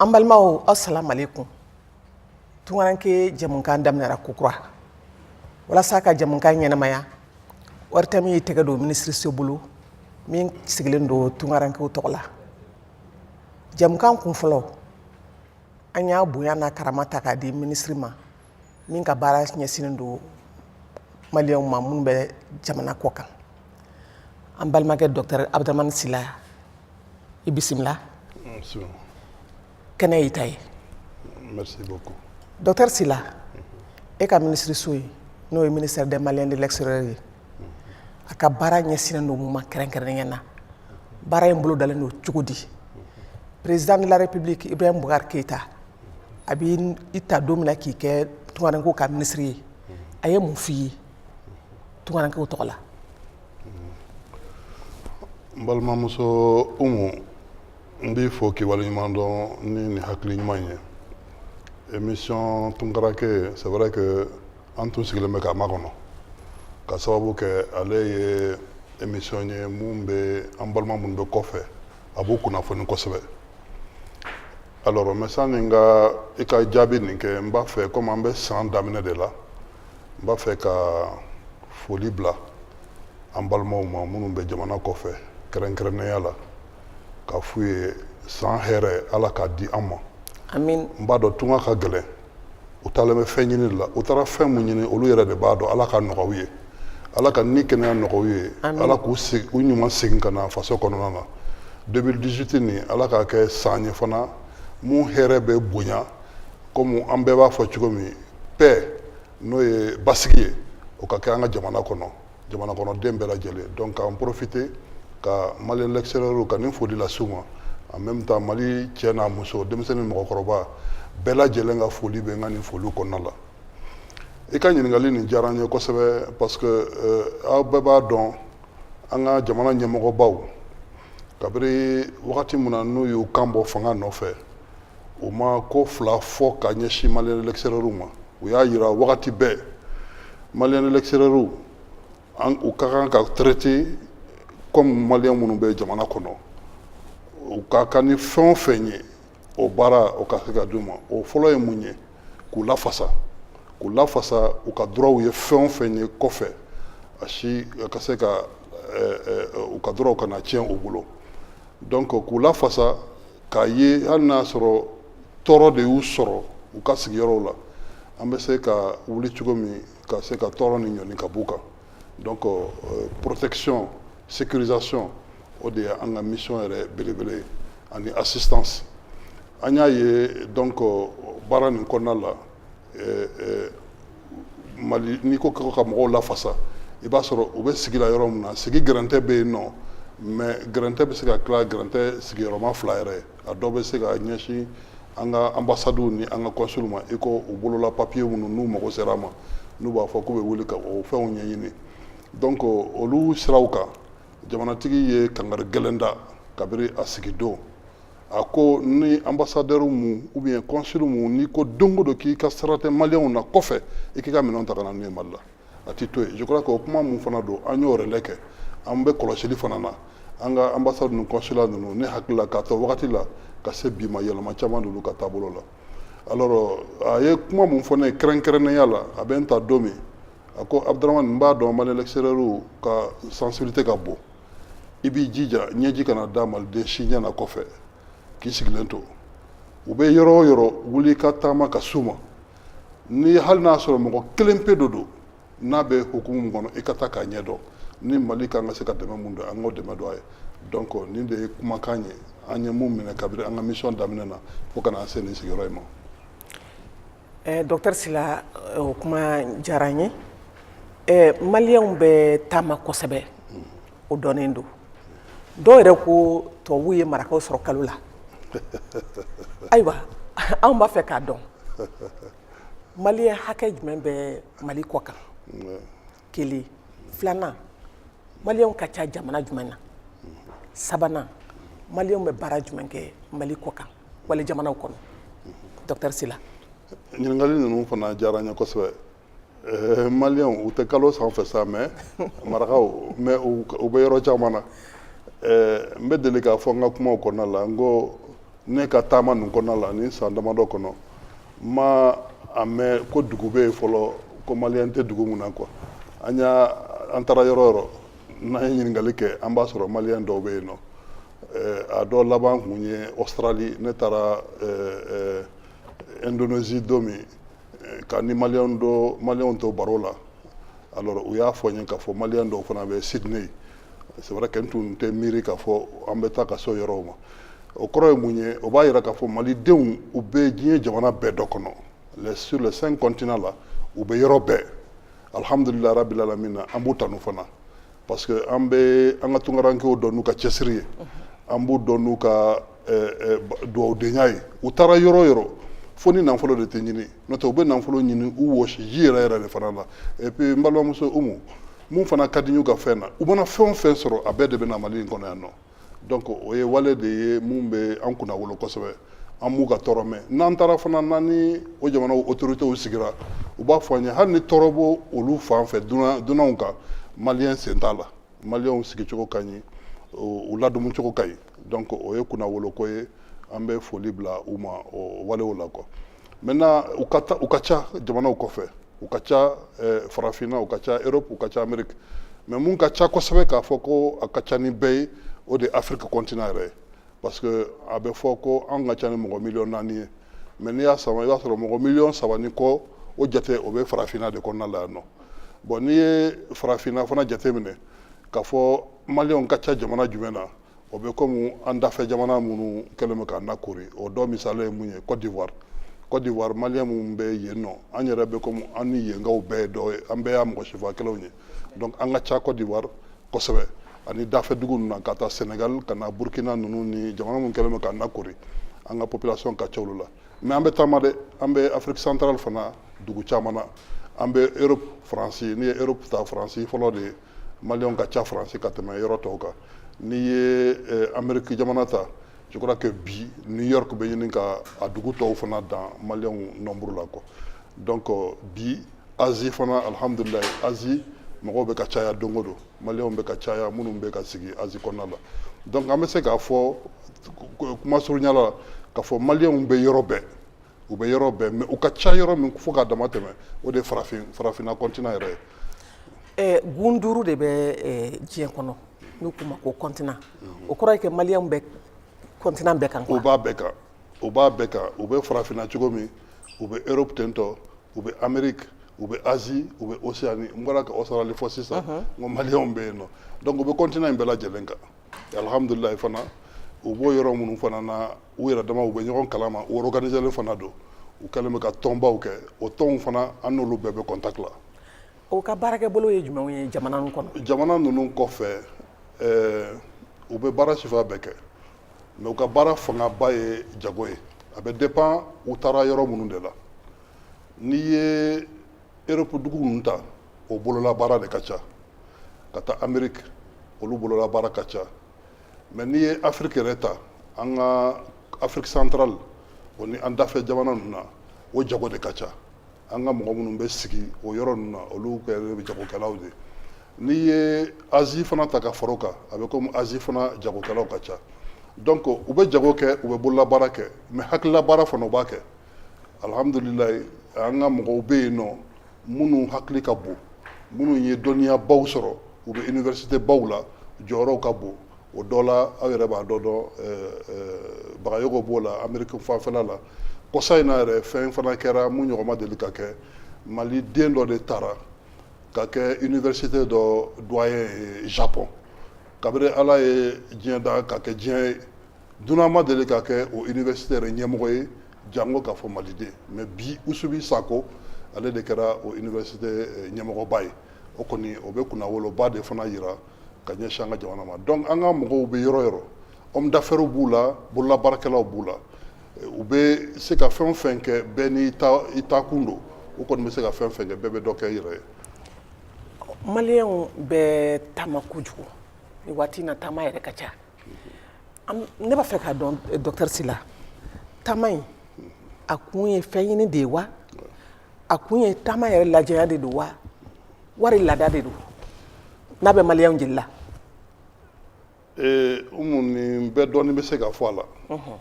an balimaw asalamu alayikum tunkaranke jamukan daminɛra kokura walasa ka jamukan ɲɛnamaya ORTM ye tɛgɛ don minisiriso bolo min sigilen don tunkarankew tɔgɔ la jamukan kun fɔlɔ an y'a bonya n'a karama ta k'a di minisiri ma min ka baara ɲɛsinnen don maliyɛnw ma minnu bɛ jamana kɔ kan an balimakɛ docteur abdramane sila i bisimila kɛnɛ y'i ta ye docteur sila e ka minisiriso ye n'o ye ministère des maliens de l'extérieur ye a ka baara ɲɛsinnen don mun ma kɛrɛnkɛrɛnnenya na baara in bolo dalen don cogo di président de la république ibrahim bubakar keyita a bɛ i ta don min na k'i kɛ tunkarankew ka minisiri ye a ye mun f'i ye tunkarankew tɔgɔ la n balimamuso umu n b'i fo k'i waleɲuman dɔn ni nin hakili ɲuman ye émission tunkaranke c'est vrai que an tun sigilen bɛ k'a makɔnɔ ka sababu kɛ ale ye émission ye mun bɛ an balima minnu bɛ kɔfɛ a b'u kunnafoni kosɛbɛ Alors mais sani n ka i ka jaabi nin kɛ n b'a fɛ komi an bɛ san daminɛ de la n b'a fɛ ka foli bila an balimaw ma minnu bɛ jamana kɔfɛ kɛrɛnkɛrɛnnenya la ka f'u ye san hɛrɛ ala k'a di an ma amin n b'a dɔn tunga ka gɛlɛn u taalen bɛ fɛn ɲini la u taara fɛn min ɲini olu yɛrɛ de b'a dɔn ala k'a nɔgɔya u ye ala ka ni kɛnɛya nɔgɔya u ye ala k'u u ɲuman segin ka na faso kɔnɔna na deux mille dix-huit nin ala k'a kɛ san ye fana mun hɛrɛ bɛ bonya kɔmi an bɛɛ b'a fɔ cogo min paix n'o ye basigi ye o ka kɛ an ka jamana kɔnɔ jamana kɔnɔden bɛɛ lajɛlen donc k'an profiter ka malien l'extérieur ka nin foli lase u ma en même temps mali cɛ n'a muso denmisɛnnin mɔgɔkɔrɔba bɛɛ lajɛlen ka foli bɛ n ka nin foliw kɔnɔna la i ka ɲininkali nin diyara n ye kosɛbɛ parce que euh, aw bɛɛ b'a dɔn an ka jamana ɲɛmɔgɔbaw kabiri wagati min na n'u y'u kan bɔ fanga nɔfɛ u ma ko fila fɔ ka ɲɛsin malien de l'extérieur ma u y'a jira wagati bɛɛ malien de l'extérieur u ka kan ka traiter kɔmi malien minnu bɛ jamana kɔnɔ u ka kan ni fɛn o fɛn ye o baara o ka se ka di u ma o fɔlɔ ye mun ye k'u lafasa k'u lafasa u ka droitw ye fɛn o fɛn ye kɔfɛ a si ka se ka u ka droitw kana tiɲɛ u bolo donc k'u lafasa k'a ye hali n'a sɔrɔ tɔɔrɔ de y'u sɔrɔ u ka sigiyɔrɔw la an bɛ se ka wuli cogo min ka se ka tɔɔrɔ nin ɲɔni ka b'u kan donc euh, protection sécurisation o de ye an ka mission yɛrɛ belebele ye ani assistance an y'a ye donc euh, baara nin kɔnɔna la Mali n'i ko ka mɔgɔw lafasa i b'a sɔrɔ u bɛ sigi la yɔrɔ min na sigi gɛrɛntɛ bɛ yen nɔ mais gɛrɛntɛ bɛ se ka tila gɛrɛntɛ sigiyɔrɔma fila yɛrɛ a dɔw bɛ se ka ɲɛsin an ka anbasadiw ni an ka kɔnsiliw ma i ko u bolola papiye minnu n'u mago sera a ma n'u b'a fɔ k'u bɛ wuli ka o fɛnw ɲɛɲini donc olu siraw kan jamanatigi ye kangari gɛlɛn da kabiri a sigidon a ko ni anbasadɛri mu ou bien kɔnsili mu n'i ko don o don k'i ka sara tɛ maliyɛnw na kɔfɛ i k'i ka minɛnw ta ka na n'u ye mali la a ti to yen je crois que o kuma mun fana don an y'o relais kɛ an bɛ kɔlɔsili fana na an ka anbasadi ninnu kɔnsila ninnu ne hakili la k'a t'o wagati la ka se bi ma yɛlɛma caman d'olu ka taabolo la alors a ye kuma mun fɔ ne ye kɛrɛnkɛrɛnnenya la a bɛ n ta don min a ko Abdramane n b'a dɔn malien l'extérieur ka sensibilité ka bon i b'i jija ɲɛji kana da maliden si ɲɛ na kɔfɛ k'i sigilen to u bɛ yɔrɔ o yɔrɔ wuli ka taama ka s'u ma ni hali n'a sɔrɔ mɔgɔ kelen pe dɔ don n'a bɛ hukumu min kɔnɔ i ka taa k'a ɲɛdɔn ni mali kan ka se ka dɛmɛ mun don an k'o dɛmɛ don a ye donc nin de ye kumakan ye an ye mun minɛ kabiri an ka mission daminɛna fo ka na an se nin sigiyɔrɔ in ma Eh, docteur Sila eh, o kuma diyara n ye eh, maliyɛnw bɛ taama kosɛbɛ o dɔnnen don dɔw yɛrɛ ko tubabuw ye marakaw sɔrɔ kalo la ayiwa anw b'a fɛ k'a dɔn maliyɛn hakɛ jumɛn bɛ mali kɔ kan kelen filanan maliyɛnw ka ca jamana jumɛn na sabanan maliyɛnw bɛ baara jumɛn kɛ mali kɔ kan walijamanaw kɔnɔ docteur Sila ɲininkali ninnu fana diyara n ye kosɛbɛ eh, maliyɛnw u tɛ kalo sanfɛ sa mais marakaw mais u bɛ yɔrɔ caman na eh, n bɛ deli k'a fɔ n ka kumaw kɔnɔna la n ko ne ka taama nin kɔnɔna la ni san damadɔ kɔnɔ n ma a mɛn ko dugu bɛ yen fɔlɔ ko maliyɛn tɛ dugu mun na quoi an y'a an taara yɔrɔ o yɔrɔ n'an ye ɲininkali kɛ an b'a sɔrɔ maliyɛn dɔw bɛ yen nɔ a dɔ laban kun ye Australie ne taara ɛɛ ɛɛ Indonésie don min Ka n ni mali dɔ maliyɛnw to baro la alors u y'a fɔ n ye k'a fɔ maliyɛn dɔw fana bɛ Sydney c'est vrai que n tun tɛ miiri k'a fɔ an bɛ taa ka s'o yɔrɔ ma o kɔrɔ ye mun ye o b'a jira k'a fɔ malidenw u bɛ diɲɛ jamana bɛɛ dɔ kɔnɔ sur les cinq continents la u bɛ yɔrɔ bɛɛ alihamdulilayi rabili alamina an b'u tanu fana parce que an bɛ an ka tunkarankɛw dɔn n'u ka cɛsiri ye an b'u dɔn n'u ka dugawudenya ye u taara yɔrɔ o yɔrɔ fo ni nafolo de tɛ ɲini n'o tɛ u bɛ nafolo ɲini u wɔsiji yɛrɛ yɛrɛ de fana la et puis n balimamuso umu mun fana ka di n y'u ka fɛn na u mana fɛn o fɛn sɔrɔ a bɛɛ de bɛ na mali in kɔnɔ yan nɔ donc o ye wale de ye mun bɛ an kunna wolo kosɛbɛ an m'u ka tɔɔrɔ mɛn n'an taara fana n'an ni o jamanaw autorités sigira u b'a fɔ an ye hali ni tɔɔrɔ b'o olu fan fɛ dunan dunanw kan maliyɛn sen t'a la maliyɛnw sigicogo ka ɲi u ladumucogo ka ɲi donc o ye kunnawoloko ye an bɛ foli bila u ma o walew la quoi maintenant u ka u ka ca jamanaw kɔfɛ u ka ca eh, farafinna u ka ca europe u ka ca amérique mais mun ka ca kosɛbɛ k'a fɔ ko a ka ca ni bɛɛ ye o de ye afrique continent yɛrɛ ye parce que a bɛ fɔ ko an ka ca ni mɔgɔ miliyɔn naani ye mais n'i y'a sama i b'a sɔrɔ mɔgɔ miliyɔn saba ni kɔ o jate o bɛ farafinna de kɔnɔna la yan nɔ bon n'i ye farafinna fana jate minɛ k'a fɔ maliyɛnw ka ca jamana jumɛn na o bɛ komi an dafɛ jamana minnu kɛlen bɛ k'an lakori o dɔ misali ye mun ye côte d'ivoire côte d'ivoire maliyɛn minnu bɛ yen nɔ an yɛrɛ bɛ komi an ni yenkaw bɛɛ ye dɔ ye an bɛɛ y'a mɔgɔ sifa kelenw ye donc an ka ca côte d'ivoire kosɛbɛ ani dafɛ dugu ninnu na ka taa sénégal ka na burkina ninnu ni jamana minnu kɛlen bɛ k'an lakori an ka population ka ca olu la mais an bɛ taama dɛ an bɛ afrique centrale fana dugu caman na an bɛ europe faransi n'i ye europe ta faransi fɔlɔ de ye Maliyɛnw ka ca Faransi ka tɛmɛ yɔrɔ tɔw kan n'i ye eh, Amérique jamana ta je crois que bi New York bɛ ɲini ka a dugu tɔw fana dan Maliyɛnw nombre la quoi donc euh, bi Asie fana alhamdulillahi Asie mɔgɔw bɛ ka caya don o don Maliyɛnw bɛ ka caya minnu bɛ ka sigi Asie kɔnɔna la donc an bɛ se k'a fɔ kuma surunya la k'a fɔ Maliyɛnw bɛ yɔrɔ bɛɛ u bɛ yɔrɔ bɛɛ mais u ka ca yɔrɔ min fo k'a dama tɛmɛ o de farafin farafinna continent yɛrɛ ye gun duuru de bɛ diɲɛ kɔnɔ n'u k'u ma ko continent o kɔrɔ ye que maliyɛnw bɛ continent bɛɛ kan u b'a bɛɛ kan u b'a bɛɛ kan u bɛ farafinna cogo min u bɛ europe tentɔ u bɛ amérique u bɛ asie u bɛ océanie n bɔra ka australie fɔ sisan n ko maliyɛnw bɛ yen nɔ donc u bɛ continent in bɛɛ lajɛlen kan alihamdulilayi fana u b'o yɔrɔ minnu fana na u yɛrɛ dama u bɛ ɲɔgɔn kalama u organiselen fana don u kɛlen bɛ ka tɔnbaw kɛ o tɔnw fana an n'olu bɛɛ bɛ contact la o ka baarakɛbolo ye jumɛn ye jamana kɔnɔ jamana ninnu kɔfɛ u bɛ baara sifa bɛɛ kɛ mais u ka baara fangaba ye jago ye a bɛ dépend u taara yɔrɔ minnu de la n'i ye europe dugu ninnu ta o bolola baara de ka ca ka taa amérique olu bolola baara ka ca mɛ n'i ye afiriki yɛrɛ ta an ka afiriki santarali o ni an dafɛ jamana ninnu na o jago de ka ca an ka mɔgɔ minnu bɛ sigi o yɔrɔ ninnu na olu kɛlen bɛ jagokɛlaw de n'i ye azi fana ta ka fara o kan a bɛ komi azi fana jagokɛlaw ka ca donc u bɛ jago kɛ u bɛ bololabaara kɛ mɛ hakililabaara fana u b'a kɛ alhamdulilayi an ka mɔgɔw bɛ yen nɔ minnu hakili ka bon minnu ye dɔnniya baw sɔrɔ u bɛ université baw la jɔyɔrɔw ka bon o dɔ la aw yɛrɛ b'a dɔ dɔn bagayoko b'o la ameriki fanfɛla la kɔsa in na yɛrɛ fɛn fana kɛra min ɲɔgɔn ma deli ka kɛ maliden dɔ de taara ka kɛ université dɔ doyen ye Japon kabiri ala ye diɲɛ da ka kɛ diɲɛ ye dunan ma deli ka kɛ o université yɛrɛ ɲɛmɔgɔ ye janko k'a fɔ maliden mais bi usubi sako ale de kɛra o université eh, ɲɛmɔgɔba ye o kɔni o bɛ kunnawoloba de fana yira ka ɲɛsin an ka jamana ma donc an ka mɔgɔw bɛ yɔrɔ yɔrɔ homme d'affaires b'u la bololabaarakɛlaw b'u la eh, u bɛ se ka fɛn o fɛn kɛ bɛɛ n'i taakun don u kɔni bɛ se ka fɛn o fɛn kɛ bɛɛ bɛ dɔ kɛ i yɛrɛ ye maliyɛnw bɛ taama kojugu nin waati in na taama yɛrɛ ka ca ne b'a fɛ k'a dɔn eh, docteur Sila taama in a kun ye fɛn ɲini de ye wa a kun ye taama yɛrɛ lajɛya de don wa wali laada de don n'a bɛ maliyɛnw jeli la eh, umu nin bɛɛ dɔɔni bɛ se ka fɔ a la mhm.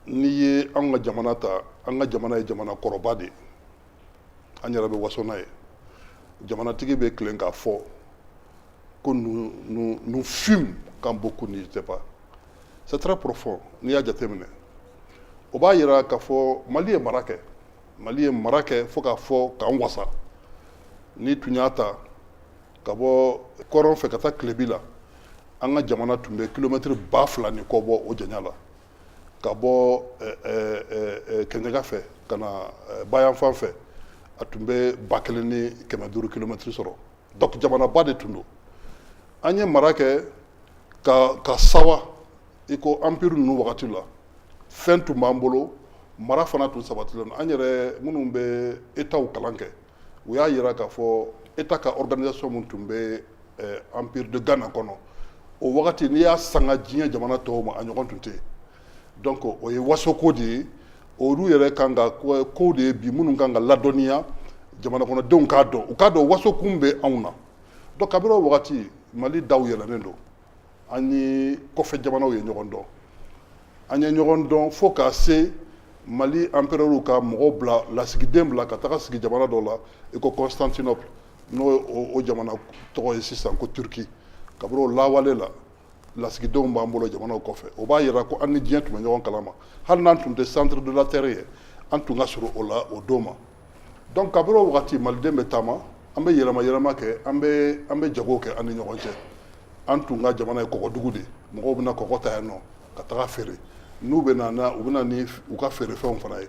n'i ye an ka jamana ta an ka jamana ye jamana kɔrɔba de ye an yɛrɛ bɛ waso n'a ye jamanatigi bɛ tilen k'a fɔ ko nous fûmes quand beaucoup n'étaient pas c'est très profond n'i y'a jateminɛ o b'a yira k'a fɔ mali ye mara kɛ mali ye mara kɛ fo k'a fɔ k'an wasa n'i tun y'a ta ka bɔ kɔrɔn fɛ ka taa tilebi la an ka jamana tun bɛ kilomɛtiri ba fila ni kɔ bɔ o janya la ka bɔ kɛɲɛka fɛ ka na bayanfan fɛ a tun bɛ ba kelen ni kɛmɛ duuru kilomɛtiri sɔrɔ donc jamanaba de tun don an ye mara kɛ ka sawa i ko anpiri ninnu wagati la fɛn tun b'an bolo mara fana tun sabatilen an yɛrɛ minnu bɛ étatw kalan kɛ u y'a yira k'a fɔ état ka organisation min tun bɛ eh, empire de Ghana kɔnɔ o wagati n'i y'a sanga diɲɛ jamana tɔw ma a ɲɔgɔn tun tɛ donc o ye wasoko de ye olu yɛrɛ kan ka kow de ye bi minnu kan ka ladɔnniya jamana kɔnɔdenw k'a dɔn u k'a dɔn wasokun bɛ anw na donc kabini o wagati mali daw yɛlɛnnen don an ni kɔfɛ jamanaw ye ɲɔgɔn dɔn an ye ɲɔgɔn dɔn fo ka se mali empereur ka mɔgɔw bila lasigiden bila ka taga sigi jamana dɔ la i ko constantinople n'o o jamana tɔgɔ ye sisan ko turki kabini o lawale la lasigidenw b'an bolo jamanaw kɔfɛ o b'a yira ko an ni diɲɛ tun bɛ ɲɔgɔn kalama hali n'an tun tɛ centre de la terre ye an tun ka surun o la o don ma Donc kabini o wagati maliden bɛ taama an bɛ yɛlɛma yɛlɛma kɛ an bɛ jago kɛ an ni ɲɔgɔn cɛ an tun ka jamana ye kɔgɔdugu de mɔgɔw bɛ na kɔgɔ ta yan nɔ ka taga feere n'u bɛ na u bɛ na ni u ka feerefɛnw fana ye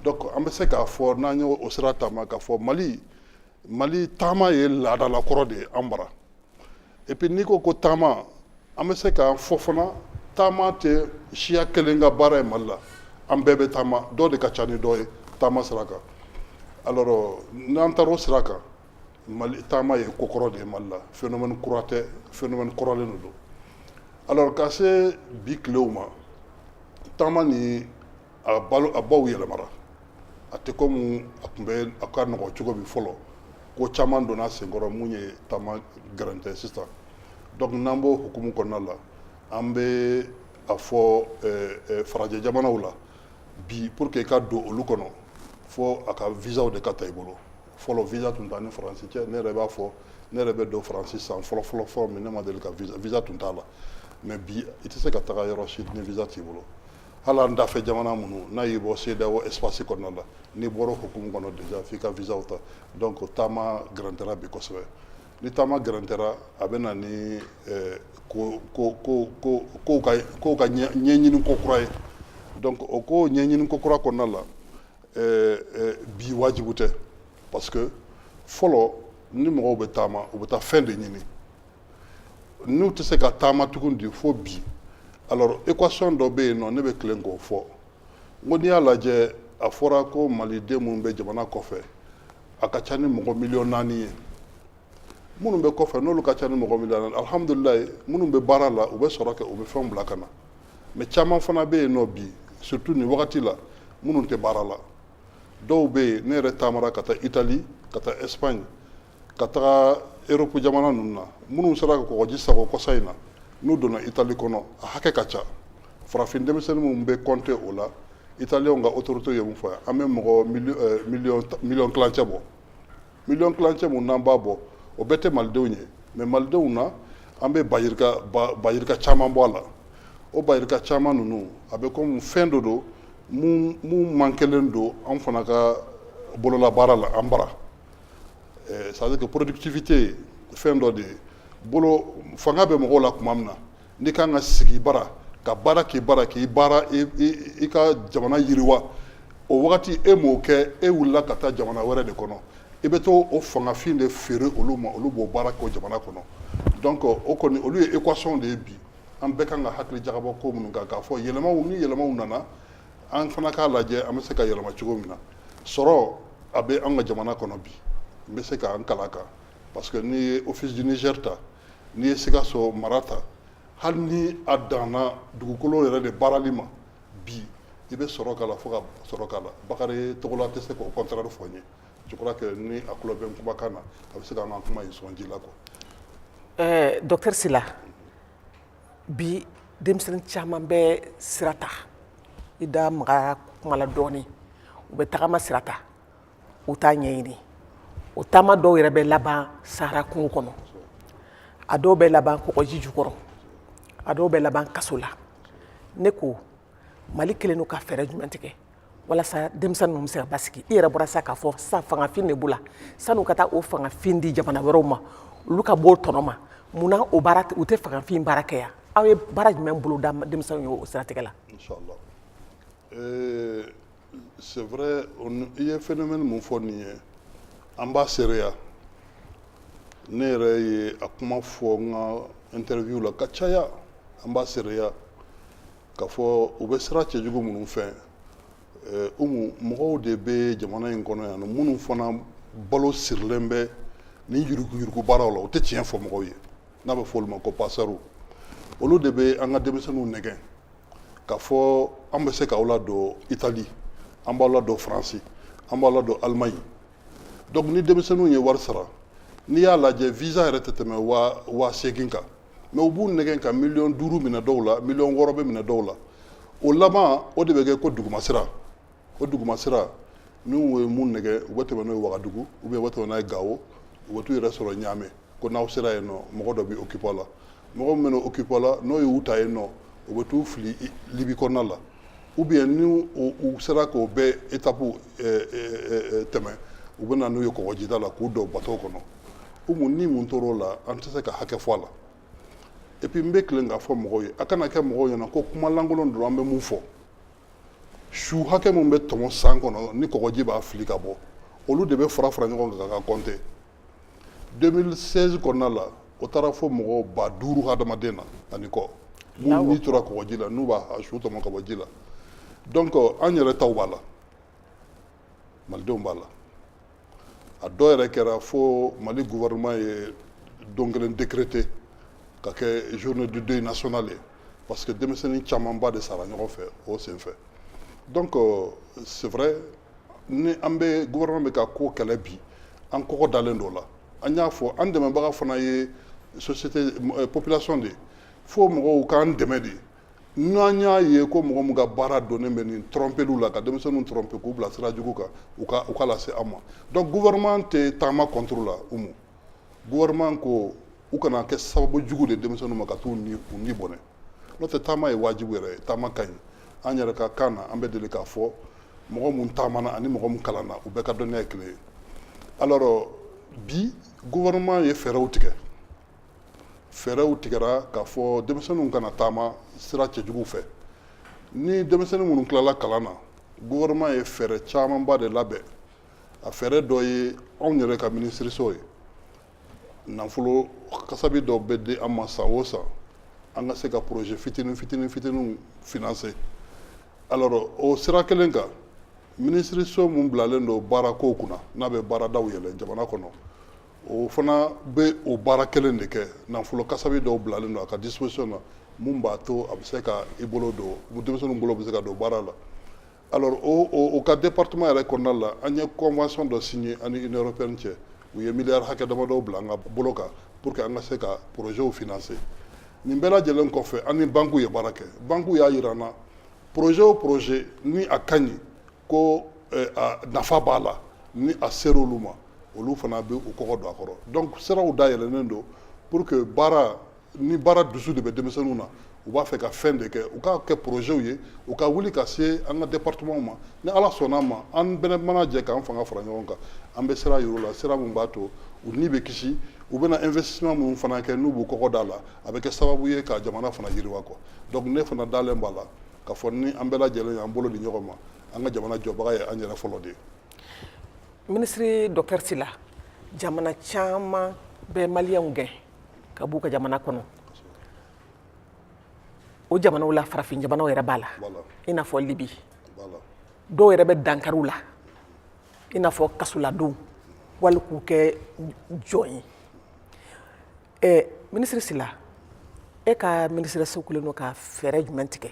donc an bɛ se k'a fɔ n'an ye o sira taama k'a fɔ mali mali taama ye laadala kɔrɔ de ye an bara Et puis n'i ko ko taama an bɛ se k'a fɔ fana taama tɛ siya kelen ka baara ye mali la an bɛɛ bɛ taama dɔ de ka ca ni dɔ ye taama sira kan alors n'an taara o sira kan mali taama ye ko kɔrɔ de ye mali la phénomène kura tɛ phénomène kɔrɔlen de don alors ka se bi tilew ma taama ni a balo a baw yɛlɛmara a tɛ komi a tun bɛ a ka nɔgɔ cogo min fɔlɔ ko caman donna senkɔrɔ mun ye taama gɛrɛntɛ sisan donc n'an b'o hukumu kɔnɔna la an bɛ a fɔ eh, eh, farajɛ jamanaw la bi pour que i ka don olu kɔnɔ fo a ka visaw de ka ta i bolo fɔlɔ visa tun t'an ni faransi cɛ ne yɛrɛ b'a fɔ ne yɛrɛ bɛ don faransi san fɔlɔ fɔlɔ fɔlɔ min ne ma deli ka visa visa tun t'a la mais bi i tɛ se ka taga yɔrɔ si ni visa t'i bolo hali an dafɛ jamana minnu n'a y'i bɔ CEDEAO espace kɔnɔna la n'i bɔra o hukumu kɔnɔ déjà f'i ka visaw ta donc taama gɛrɛntɛra bi kosɛbɛ ni taama gɛrɛntɛra a bɛ na ni kow ka ɲɛɲini ko kura ye donc o ko ɲɛɲini ko kura kɔnɔna la bi wajibu tɛ parce que fɔlɔ ni mɔgɔw bɛ taama u bɛ taa fɛn de ɲini n'u tɛ se ka taama tugun di fo bi alors équation dɔ bɛ yen nɔ ne bɛ tilen k'o fɔ n ko n'i y'a lajɛ a fɔra ko maliden minnu bɛ jamana kɔfɛ a ka ca ni mɔgɔ miliyɔn naani ye minnu bɛ kɔfɛ n'olu ka ca ni mɔgɔ miliyɔn naani alihamudulilayi minnu bɛ baara la u bɛ sɔrɔ kɛ u bɛ fɛnw bila ka na mais caman fana bɛ yen nɔ bi surtout nin wagati la minnu tɛ baara la dɔw bɛ yen ne yɛrɛ taamara ka taa italie ka taa espagne ka taga europe jamana ninnu na minnu sera ka kɔgɔji sagon kɔsa in na n'u donna italie kɔnɔ a hakɛ ka ca farafin denmisɛnnin minnu bɛ compter o la italiɛnw ka autorité ye mun fɔ an bɛ mɔgɔ miliyɔn tilancɛ bɔ miliyɔn tilancɛ minnu n'an b'a bɔ o bɛɛ tɛ malidenw ye mais malidenw na an bɛ bayirika caman bɔ a la o bayirika caman ninnu a bɛ kɔmi fɛn dɔ don mun mankelen don an fana ka bololabaara la an bara Eh, c'est à dire que productivité fɛn dɔ de ye bolo fanga bɛ mɔgɔw la tuma min na n'i kan ka sigi i bara ka baara k'i bara k'i baara i ka jamana yiriwa o wagati e m'o kɛ e wulila ka taa jamana wɛrɛ de kɔnɔ i bɛ to o fangafin de feere olu ma olu b'o baara k'o jamana kɔnɔ donc o kɔni olu ye équation de ye bi an bɛɛ kan ka hakili jagabɔ ko minnu kan k'a fɔ yɛlɛmaw ni yɛlɛmaw nana An fana k'a lajɛ an bɛ se ka yɛlɛma cogo min na sɔrɔ a bɛ an ka jamana kɔnɔ bi n bɛ se ka n kal'a kan parce que n'i ye office du niger ta n'i ye sikaso mara ta hali ni a danna dugukolo yɛrɛ de baarali ma bi i bɛ sɔrɔ k'a la fo ka sɔrɔ k'a la bakari togola tɛ se k'o contraire fɔ n ye je crois que ni a tulo bɛ n kumakan na a bɛ se k'an ka kuma in sɔn ji la quoi docteur sila bi denmisɛnnin caman bɛ sira ta i da maga kuma la dɔɔnin u bɛ tagama sira ta u t'a ɲɛɲini o taama dɔw yɛrɛ bɛ laban sahara kungo kɔnɔ a dɔw bɛ laban kɔgɔji jukɔrɔ a dɔw bɛ laban kaso la ne ko mali kɛlen don ka fɛɛrɛ jumɛn tigɛ walasa denmisɛnnin ninnu bɛ se ka basigi i yɛrɛ bɔra sa k'a fɔ sa fangafin de b'u la san'u ka taa o fangafin di jamana wɛrɛw ma olu ka b'o tɔnɔ ma mun na o baara u tɛ fangafin baara kɛ yan aw ye baara jumɛn bolo da denmisɛnninw ye o siratigɛ la. inshallah euh, c'est vrai i ye phénomène mun fɔ nin ye an b'a seereya ne yɛrɛ ye a kuma fɔ n ka interview la ka caya an b'a seereya. K'a fɔ u bɛ sira cɛjugu minnu fɛ mɔgɔw de bɛ jamana in kɔnɔ yan minnu fana balo sirilen bɛ ni yuruguyurugu baaraw la u tɛ tiɲɛ fɔ mɔgɔw ye n'a bɛ fɔ olu ma ko passeur olu de bɛ an ka denmisɛnninw nɛgɛn k'a fɔ an bɛ se k'aw ladon itali an b'aw ladon faransi an b'aw ladon allemagne donc ni denmisɛnninw ye wari sara n'i y'a lajɛ visa yɛrɛ tɛ tɛmɛ waa seegin kan mais u b'u nɛgɛn ka miliyɔn duuru minɛ dɔw la miliyɔn wɔɔrɔ bɛ minɛ dɔw la o laban o de bɛ kɛ ko dugumasira o dugumasira n'u ye mun nɛgɛn u bɛ tɛmɛ n'o ye wagadugu ou bien u bɛ tɛmɛ n'a ye gawo u bɛ t'u yɛrɛ sɔrɔ ɲaamɛ ko n'aw sera yen nɔ mɔgɔ dɔ bɛ occuper a la mɔgɔ min bɛ occuper u la n'o ye u ta yen nɔ u bɛ t'u fili libi kɔnɔna la ou bien ni u sera k'o bɛɛ étape tɛmɛ u bɛ na n'u ye kɔgɔjida la k'u don bato kɔnɔ mun ni mun tora o la an tɛ se ka hakɛ fɔ a la et puis n bɛ kelen k'a fɔ mɔgɔw ye a kana kɛ mɔgɔw ɲɛna ko kumalankolon don an bɛ mun fɔ su hakɛ min bɛ tɔmɔ san kɔnɔ ni kɔgɔji b'a fili ka bɔ olu de bɛ fara fara ɲɔgɔn kan ka compter 2016 kɔnɔna la o taara fo mɔgɔ ba duuru hadamaden na ani kɔ minnu ni tora kɔgɔji la n'u b'a su tɔmɔ ka bɔ ji la donc an yɛrɛ taw b'a la malidenw b'a la a dɔw yɛrɛ kɛra fo mali gouvernement ye don kelen décrété ka kɛ journée du deuil national ye parce que denmisɛnnin camanba de sara ɲɔgɔn fɛ o senfɛ donc c'est vrai ni an bɛ gouvernement bɛ ka ko kɛlɛ bi an kɔkɔ dalen don o la an y'a fɔ an dɛmɛbaga fana ye société euh, population de ye fo mɔgɔw k'an dɛmɛ de n'an y'a ye ko mɔgɔ min ka baara donnen bɛ nin trompeliw la ka denmisɛnninw tromper k'u bila sira jugu kan u k'a lase an ma donc gouvernement tɛ taama contre la umu gouvernement ko u kana kɛ sababu jugu de denmisɛnninw ma ka t'u ni bɔnɛ n'o tɛ taama ye wajibu yɛrɛ ye taama ka ɲi an yɛrɛ ka kan na an bɛ deli k'a fɔ mɔgɔ mun taamana ani mɔgɔ mun kalanna u bɛɛ ka dɔnniya ye kelen ye alors bi gouvernement ye fɛɛrɛw tigɛ fɛɛrɛw tigɛra k'a fɔ denmisɛnninw kana taama sira cɛjuguw fɛ ni denmisɛnnin minnu tilala kalan na gouvernement ye fɛɛrɛ camanba de labɛn a fɛɛrɛ dɔ ye anw yɛrɛ ka minisiriso ye nafolo kasabi dɔ bɛ di an ma san o san an ka se ka projet fitinin fitinin fitininw financer alors o sira kelen kan minisiriso min bilalen don baara kow kunna n'a bɛ baaradaw yɛlɛ jamana kɔnɔ o fana bɛ o baara kelen de kɛ nafolo kasabi dɔw bilalen don a ka disposition na mun b'a to a bɛ se ka i bolo don denmisɛnninw bolo bɛ se ka don baara la Alors o ka département yɛrɛ kɔnɔna la an ye convention dɔ signer an ni Union européenne cɛ u ye miliyari hakɛ damadɔ bila an ka bolo kan pour que an ka se ka projets financer nin bɛɛ lajɛlen kɔfɛ an ni banques ye baara kɛ banques y'a yira an na projet o projet ni a ka ɲi ko eh, a nafa b'a la ni a ser'olu ma olu fana bɛ u kɔkɔ don a kɔrɔ donc siraw dayɛlɛnnen don pour que baara ni baara dusu de bɛ denmisɛnninw na u b'a fɛ ka fɛn de kɛ u k'a kɛ projets ye u ka wuli ka se an ka département ma ni ala sɔnna a ma an bɛɛ mana jɛ k'an fanga fara ɲɔgɔn kan an bɛ sira yir'u la sira min b'a to u ni bɛ kisi u bɛna investissement minnu fana kɛ n'u b'u kɔkɔ d'a la a bɛ kɛ sababu ye ka jamana fana yiriwa quoi donc ne fana dalen b'a la k'a fɔ ni an bɛɛ lajɛlen y'an bolo di ɲɔgɔn ma an ka jamana jɔbaga ye an yɛrɛ fɔlɔ de ye minisiri docteur sila jamana caman bɛ maliyɛnw gɛn ka b'u ka jamana kɔnɔ o jamanaw la farafin jamanaw yɛrɛ b'a la i n'a fɔ libi dɔw yɛrɛ bɛ dankari u la i n'a fɔ kasoladon wali k'u kɛ jɔn ye ɛ minisiri sila e ka minisiriso kɛlen don ka fɛɛrɛ jumɛn tigɛ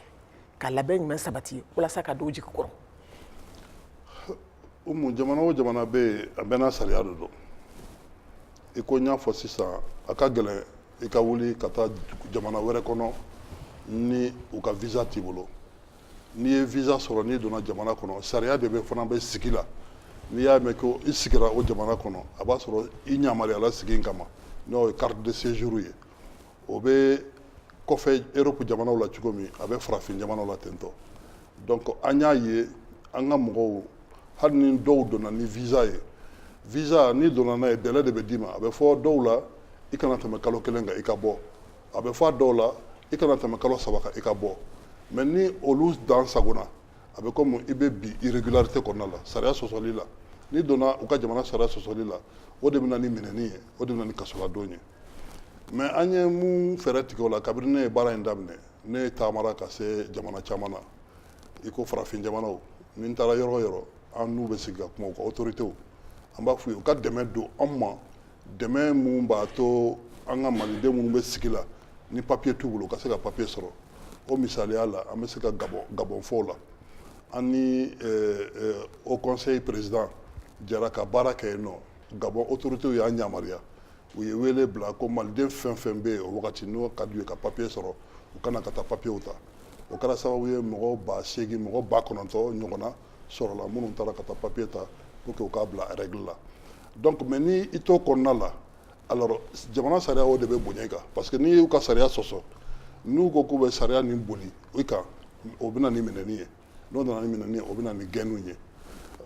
ka labɛn jumɛn sabati walasa ka don u jigi kɔrɔ o mun jamana o jamana bɛ yen a bɛɛ n'a sariya de don i ko n y'a fɔ sisan a ka gɛlɛn i ka wuli ka taa jamana wɛrɛ kɔnɔ ni u ka visa t'i bolo n'i ye visa sɔrɔ n'i donna jamana kɔnɔ sariya de bɛ fana bɛ sigi la n'i y'a mɛn ko i sigira o jamana kɔnɔ a b'a sɔrɔ i yamaruyala sigi in kama n'o ye carte de séjour ye o bɛ kɔfɛ eropu jamanaw la cogo min a bɛ farafin jamanaw la ten tɔ donc an y'a ye an ka mɔgɔw hali ni dɔw donna ni visa ye visa n'i donna n'a ye délai de bɛ d'i ma a bɛ fɔ dɔw la i kana tɛmɛ kalo kelen kan i ka bɔ a bɛ fɔ a dɔw la i kana tɛmɛ kalo saba kan i ka bɔ mais ni olu dan sagonna a bɛ komi i bɛ bi irrégularité kɔnɔna la sariya sɔsɔli la n'i donna u ka jamana sariya sɔsɔli la o de bɛ na ni minɛni ye o de bɛ na ni kasoladon ye mais an ye mun fɛɛrɛ tigɛ o la kabini ne ye baara in daminɛ ne ye taamara ka se jamana caman na i ko farafin jamanaw ni n taara yɔrɔ o yɔrɔ an n'u bɛ sigi ka kuma u ka autoritéw an b'a f'u ye u ka dɛmɛ don an ma dɛmɛ mun b'a to an ka maliden minnu bɛ sigi la ni papiye t'u bolo u ka se ka papiye sɔrɔ o misaliya la an bɛ se ka gabɔn fɔ o la an ni haut conseil président jɛra ka baara kɛ yen nɔ gabɔn autoritéw y'an yamaruya u ye wele bila ko maliden fɛn fɛn bɛ yen o wagati n'o ka d'u ye ka papiye sɔrɔ u ka na ka taa papiyew ta o kɛra sababu ye mɔgɔ ba seegin mɔgɔ ba kɔnɔntɔn ɲɔgɔnna sɔrɔla minnu taara ka taa papiye ta pour que u ka bila règle la donc mais ni i t'o kɔnɔna la alors jamana sariya o de bɛ bonya i kan parce que n'i y'u ka sariya sɔsɔ n'u ko k'u bɛ sariya nin boli i kan o bɛ na ni minɛni ye n'o nana ni minɛni ye o bɛ na ni gɛnniw ye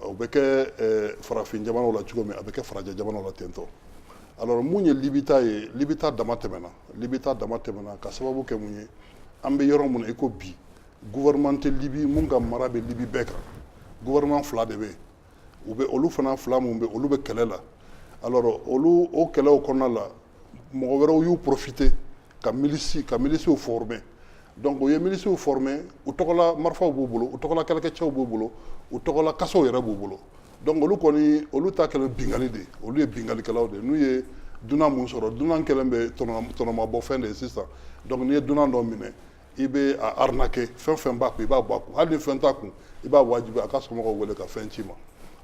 o bɛ kɛ farafin jamanaw la cogo min a bɛ kɛ farajɛ jamanaw la ten tɔ alors mun ye libi ta ye libi ta dama tɛmɛna libi ta dama tɛmɛna ka sababu kɛ mun ye an bɛ yɔrɔ min na i ko bi gouvernement tɛ libi mun ka mara bɛ libi bɛɛ kan gouvernement fila de bɛ yen u bɛ olu fana fila minnu bɛ olu bɛ kɛlɛ la alors olu o kɛlɛw kɔnɔna la mɔgɔ wɛrɛw y'u profiter ka milisi ka milisiw former donc u ye milisiw former u tɔgɔla marifaw b'u bolo u tɔgɔla kɛlɛkɛcɛw b'u bolo u tɔgɔla kasow yɛrɛ b'u bolo donc olu kɔni olu ta kɛlen binkanni de ye olu ye binkannikɛlaw de ye n'u ye dunan mun sɔrɔ dunan kɛlen bɛ tɔnɔmabɔfɛn de ye sisan donc n'i ye dunan dɔ minɛ i bɛ a arnaquer fɛn fɛn b'a kun i b'a bɔ a kun hali ni fɛn t'a kun i b'a wajibi a ka somɔgɔw wele ka fɛn ci i ma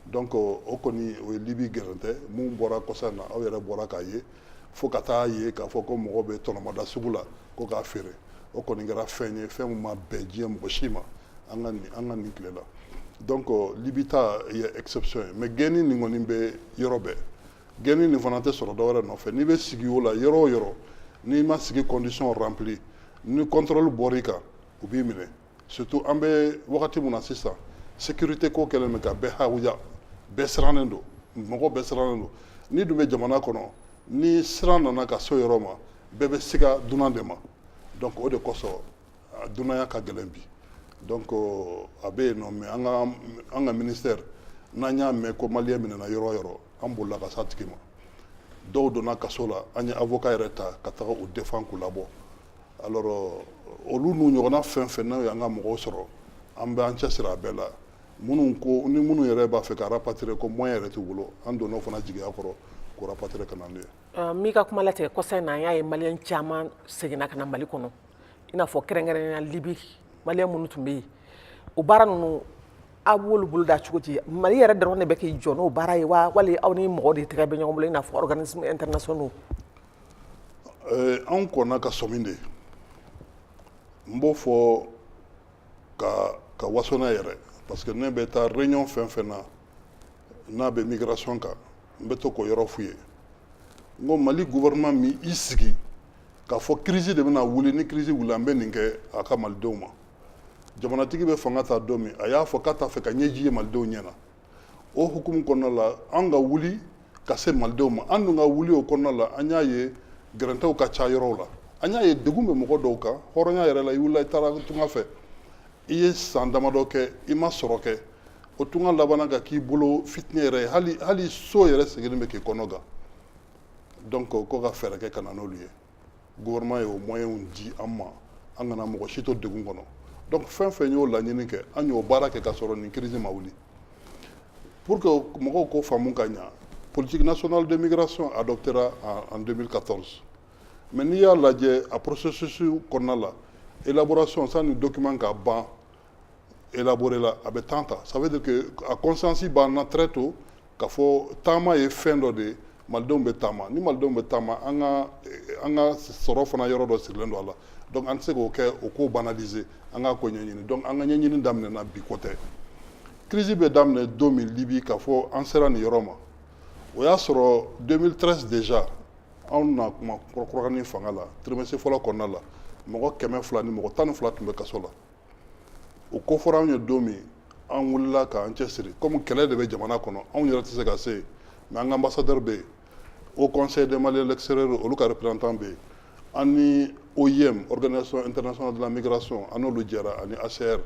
donc o kɔni o ye libi gɛrɛntɛ mun bɔra kɔsa in na aw yɛrɛ bɔra k'a ye fo ka taa ye k'a fɔ ko mɔgɔ bɛ tɔnɔmada sugu la ko k'a feere o kɔni kɛra fɛn ye fɛn min ma bɛn diɲɛ mɔgɔ si ma an ka nin an ka nin tile la donc libi ta ye exception ye mais gɛnni nin kɔni bɛ yɔrɔ bɛɛ Gɛnni nin fana tɛ sɔrɔ dɔwɛrɛ nɔfɛ n'i bɛ sigi o la yɔrɔ o yɔrɔ n'i ma sigi condition rempli ni contrôle bɔr'i kan u b'i minɛ surtout an bɛ wagati min na sisan sécurité ko kɛlen bɛ ka bɛɛ hawuja bɛɛ sirannen don mɔgɔ bɛɛ sirannen don n'i dun bɛ jamana kɔnɔ ni siran nana ka se o yɔrɔ ma bɛɛ bɛ siga dunan de ma donc o de kosɔn a dunanya ka gɛlɛn bi donc a bɛ yen nɔ mais an ka ministère n'an y'a mɛn ko maliyɛn minɛna yɔrɔ o yɔrɔ an bolila ka s'a tigi ma dɔw donna kaso la an ye avocat yɛrɛ ta ka taga u défendre k'u labɔ olu n'u ɲɔgɔnna fɛn fɛn n'o y'an ka mɔgɔw sɔrɔ an bɛ an cɛ siri a bɛɛ la minnu ko ni minnu yɛrɛ b'a fɛ ka rapatrier ko moyen yɛrɛ t'u bolo an donna o fana jigiya kɔrɔ k'o rapatrier ka na n'u ye n b'i ka kuma latigɛ kɔsa in na an y'a ye maliyɛn caman seginna ka na mali kɔnɔ i n'a fɔ kɛrɛnkɛrɛnnenya libi maliyɛn minnu tun bɛ yen o baara ninnu aw b'olu bolo da cogo di mali yɛrɛ dɔrɔn de bɛ k'i jɔ n'o baara ye wa wali aw ni mɔgɔ de tɛgɛ bɛ ɲɔgɔn bolo i n'a fɔ organisme international eh, anw kɔnna ka sɔmi de n b'o fɔ ka waso n'a yɛrɛ parce que ne bɛ taa réunion fɛn fɛn na n'a bɛ migration kan n bɛ to k'o yɔrɔ f'u ye n ko mali gouvernement m'i sigi k'a fɔ crise de bɛna wuli ni crise wulila an bɛ nin kɛ a ka malidenw ma jamanatigi bɛ fanga ta don min a y'a fɔ k'a t'a fɛ ka ɲɛji ye malidenw ɲɛ na o hukumu kɔnɔna la an ka wuli ka se malidenw ma an dun ka wuli o kɔnɔna la an y'a ye gɛrɛntɛw ka ca yɔrɔw la an y'a ye degun bɛ mɔgɔ dɔw kan hɔrɔnya yɛrɛ la i wulila i taara tunga fɛ i ye san damadɔ kɛ i ma sɔrɔ kɛ o tunga labanna ka k'i bolo fitinɛ yɛrɛ ye hali so yɛrɛ seginni bɛ k'i kɔnɔ gan donc ko ka fɛɛrɛ kɛ ka na n'olu ye gouvernement ye o moyens di an ma an kana mɔgɔ si to degun kɔnɔ donc fɛn fɛn y'o laɲini kɛ an y'o baara kɛ ka sɔrɔ nin crise ma wuli pour que mɔgɔw k'o faamu ka ɲa politique nationale de migration adoptera en 2014 Mais n'i y'a lajɛ a processus kɔnɔna la élaboration sanni document ka ban élaborer la a bɛ temps ta ça veut dire que a conscience b'an na très tôt k'a fɔ taama ye fɛn dɔ de ye malidenw bɛ taama ni malidenw bɛ taama an ka sɔrɔ fana yɔrɔ dɔ sirilen don a la donc an tɛ se k'o kɛ o ko banaliser an k'a ko ɲɛɲini donc an ka ɲɛɲini daminɛna bi ko tɛ crise bɛ daminɛ don min libi k'a fɔ an sera nin yɔrɔ ma o y'a sɔrɔ 2013 déjà anw na kuma kɔrɔkɔrɔkani fanga la trimestre fɔlɔ kɔnɔna la mɔgɔ kɛmɛ fila ni mɔgɔ tan ni fila tun bɛ kaso la o ko fɔra anw ye don min an wulila k'an cɛsiri komi kɛlɛ de bɛ jamana kɔnɔ anw yɛrɛ tɛ se ka se yen mais an ka ambassadeur bɛ yen haut conseil des maliens de l'extérieur olu ka représentant bɛ yen an ni oim organisation internationale de la migration an n'olu jɛra ani hcr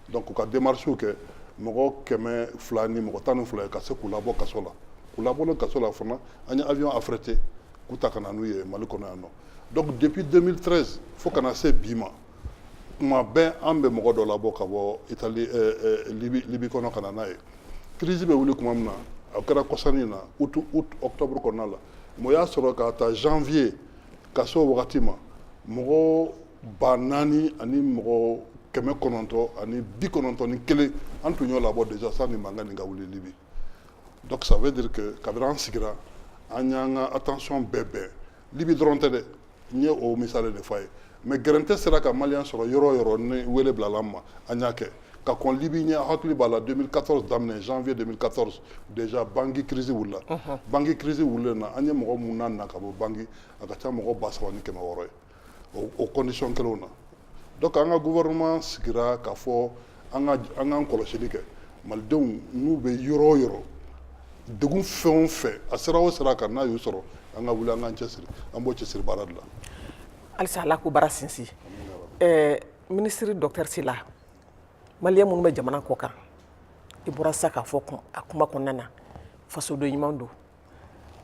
donc u ka démarches kɛ mɔgɔ kɛmɛ fila ni mɔgɔ tan ni fila ka se k'u labɔ kaso la k'u labɔlen kaso la fana an ye avion affrété k'u ta ka na n'u ye Mali kɔnɔ yan nɔ donc depuis 2013 fo ka na se bi ma kuma bɛɛ an bɛ mɔgɔ dɔ labɔ ka bɔ Italie euh, euh, Libye Libye kɔnɔ ka na n'a ye crise bɛ wuli kuma min na a kɛra kɔsa in na août août octobre kɔnɔna la mais o y'a sɔrɔ ka ta janvier ka se o wagati ma mɔgɔ ba naani ani mɔgɔ kɛmɛ kɔnɔntɔn ani bi kɔnɔntɔn ni kelen an tun y'o labɔ déjà sanni mankan nin ka wuli Libye Donc ça veut dire que kabini an sigira an y'an ka attention bɛɛ bɛn Libi dɔrɔn tɛ dɛ n ye o misali de fɔ a ye mais gɛrɛntɛ sera ka maliyɛn sɔrɔ yɔrɔ o yɔrɔ ni wele bilala an ma an y'a kɛ ka kɔn Libi ɲɛ a hakili b'a la 2014 daminɛ janvier 2014 déjà Bangui crise wulila Bangui crise wulilen na an ye mɔgɔ minnu nana ka bɔ Bangui a ka ca ni mɔgɔ ba saba ni kɛmɛ wɔɔrɔ ye o condition kelenw na donc an ka gouvernement sigira k'a fɔ an k'an kɔlɔsili kɛ malidenw n'u bɛ yɔrɔ o yɔrɔ degun fɛn fɛn a sira o sira kan n'a y'u sɔrɔ an ka wuli an k'an cɛ siri an b'o cɛsiri baara de la halisa Ala k'o baara sinsin ministre docteur Sila maliyɛn minnu bɛ jamana kɔkan i bɔra sa k'a fɔ a kuma kɔnɔna na fasoden ɲuman don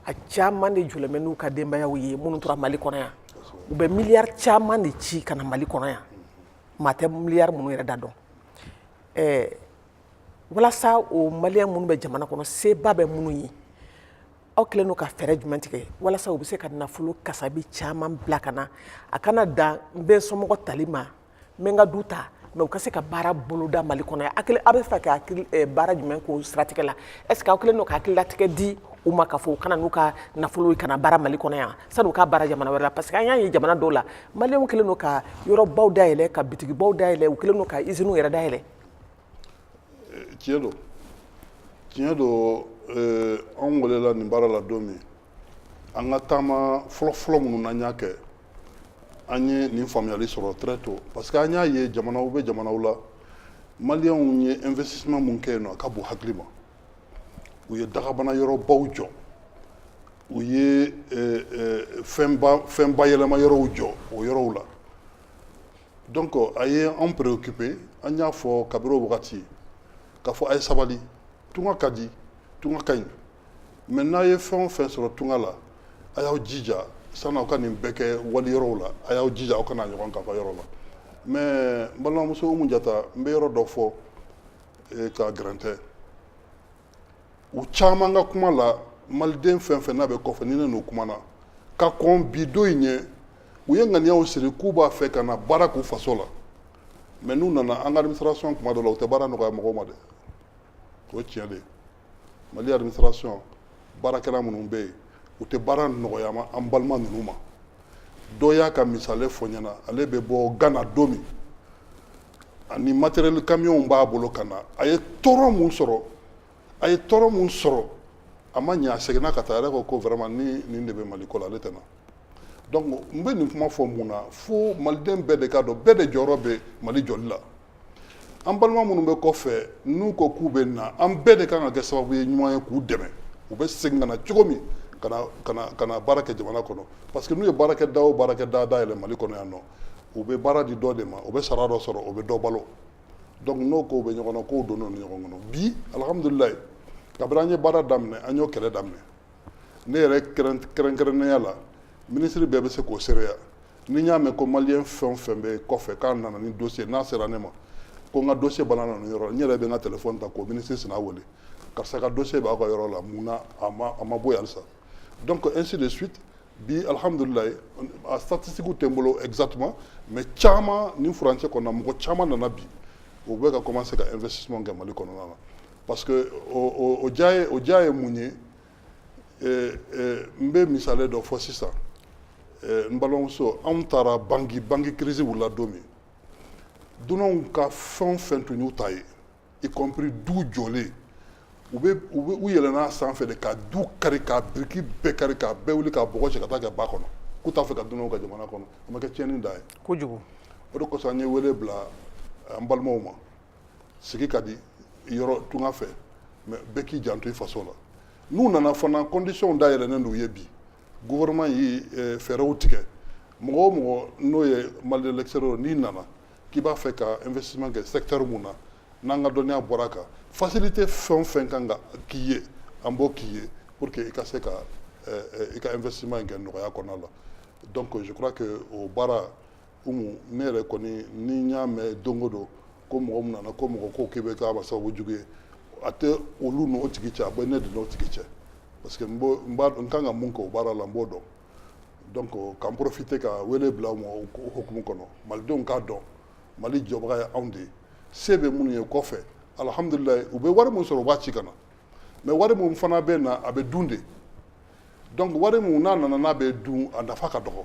a caman de jɔlen bɛ n'u ka denbayaw ye minnu tora mali kɔnɔ yan u bɛ miliyari caman de ci ka na mali kɔnɔ yan maa tɛ miliyari minnu yɛrɛ da dɔn ɛɛ walasa o maliyɛn minnu bɛ jamana kɔnɔ seba bɛ minnu ye aw kɛlen don ka fɛɛrɛ jumɛn tigɛ walasa u bɛ se ka nafolo kasabi caman bila ka na a kana dan n bɛ n somɔgɔ tali ma n bɛ n ka du ta mais u ka se ka baara boloda mali kɔnɔ yan a bɛ fɛ ka eh, baara jumɛn k'o siratigɛ la est ce que aw kɛlen don ka hakililatigɛ di u ma k'a fɔ u ka na n'u ka nafolo ye ka na baara mali kɔnɔ yan sani u ka baara jamana wɛrɛ la parce que an y'a ye jamana dɔw la maliyɛnw kɛlen don ka yɔrɔbaw dayɛlɛ ka bitigibaw dayɛlɛ u kɛlen don ka iziniw yɛrɛ dayɛlɛ tiɲɛ don tiɲɛ don eh, anw welela nin baara la don min an ka taama fɔlɔfɔlɔ minnu n'an y'a kɛ an ye nin faamuyali sɔrɔ très tôt parce que an y'a ye jamanaw bɛ jamanaw la maliyɛnw ye investissement mun kɛ yen nɔ a ka bon hakili ma u ye dagabana yɔrɔbaw jɔ u ye eh, eh, fɛnba fɛn bayɛlɛma yɔrɔw jɔ o yɔrɔw la donc a ye an préoccupé an y'a fɔ kabiri o wagati k'a fɔ a ye sabali tunga ka di tunga ka ɲi mais n'a ye fɛn o fɛn sɔrɔ tunga la a y'aw jija sani aw ka nin bɛɛ kɛ wali yɔrɔw la a y'aw jija aw ka n'a ɲɔgɔn k'aw fa yɔrɔ la mais n balimamuso Umu Jata n bɛ yɔrɔ dɔ fɔ eh, ka gɛrɛntɛ u caman ka kuma la maliden fɛn fɛn n'a bɛ kɔfɛ ni ne n'u kumana ka kɔn bi don in ɲɛ u ye ŋaniyaw siri k'u b'a fɛ ka na baara k'u faso la mais n'u nana an ka administration kuma dɔ la u tɛ baara nɔgɔya mɔgɔw ma dɛ o tiɲɛ de ye mali administration baarakɛla minnu bɛ yen u tɛ baara nɔgɔya ma an balima ninnu ma dɔ y'a ka misali fɔ n ɲɛna ale bɛ bɔ gana don min ani matériel camion b'a bolo ka na a ye tɔɔrɔ mun sɔrɔ a ye tɔɔrɔ mun sɔrɔ a ma ɲɛ a seginna ka taa a yɛrɛ ko ko vraiment ni nin de bɛ mali ko la ale tɛ na donc n bɛ nin kuma fɔ mun na fo maliden bɛɛ de k'a dɔn bɛɛ de jɔyɔrɔ bɛ mali jɔli la an balima minnu bɛ kɔfɛ n'u ko k'u bɛ na an bɛɛ de kan ka kɛ sababu ye ɲuman ye k'u dɛmɛ u bɛ segin ka na cogo min ka na ka na ka na baara kɛ jamana kɔnɔ parce que n'u ye baarakɛda o baarakɛda dayɛlɛ mali kɔnɔ yan nɔ u bɛ baara di dɔ de ma u bɛ sara dɔ sɔrɔ u bɛ dɔ balo donc n'o kow bɛ ɲɔgɔn na kow donnen don ɲɔgɔn kɔnɔ bi alihamudulilayi kabiri an ye baara daminɛ an y'o kɛlɛ daminɛ ne yɛrɛ kɛrɛnkɛrɛnnenya la minisiri bɛɛ bɛ se k'o seereya ni n y'a mɛn ko maliyɛn fɛn o fɛn bɛ kɔfɛ k'a nana ni dossier n'a sera ne ma ko n ka dossier balanna nin yɔrɔ n yɛrɛ bɛ n ka telefɔni ta k'o minisiri sina wele karisa ka dossier b'a ka yɔrɔ la mun na a ma a ma bɔ yan halisa donc ainsi de suite bi alhamdulilayi a statistique tɛ n bolo exactement mais caman nin furancɛ kɔnɔna mɔgɔ caman nana bi u bɛ ka commencer ka investissement kɛ mali kɔnɔna na parce que o diya ye o diya ye mun ye n bɛ misali dɔ fɔ sisan n balimamuso anw taara bangui bangui crise wulila don min dunanw ka fɛn o fɛn tun y'u ta ye y compris du jɔlen u bɛ u bɛ u yɛlɛnna a sanfɛ de ka du kari ka biriki bɛɛ kari ka bɛɛ wuli ka bɔgɔ cɛ ka taa kɛ ba kɔnɔ k'u t'a fɛ ka dunanw ka jamana kɔnɔ a ma kɛ tiɲɛni dan ye kojugu o de kosɔn an ye wele bila an balimaw ma sigi ka di yɔrɔ tunga fɛ mais bɛɛ k'i janto i faso la n'u nana fana conditions dayɛlɛnnen don u ye bi gouvernement ye eh, fɛɛrɛw tigɛ mɔgɔ o mɔgɔ n'o ye malien l'extérieur n'i nana k'i b'a fɛ ka investissement kɛ secteur min na n'an ka dɔnniya bɔra a kan facilité fɛn o fɛn kan ka k'i ye an b'o k'i ye pour que i ka se ka eh, eh, i ka investissement in kɛ nɔgɔya kɔnɔna la donc je crois que o baara umu ne yɛrɛ kɔni ni n y'a mɛn don o don ko mɔgɔ min nana ko mɔgɔ ko k'i bɛ k'a ma sababu jugu ye a tɛ olu n'o tigi cɛ a bɛ ne de n'o tigi cɛ parce que n b'o- n b'a dɔn n kan ka mun kɛ o baara la n b'o dɔn donc k'an profiter ka wele bila u ma o ko- hukumu kɔnɔ malidenw k'a dɔn mali jɔbaga ye anw de ye se bɛ minnu ye kɔfɛ alhamdulilayi u bɛ wari min sɔrɔ u b'a ci ka na mais wari min fana bɛ na a bɛ dun de donc wari min n'a nana n'a bɛ dun a nafa ka dɔgɔ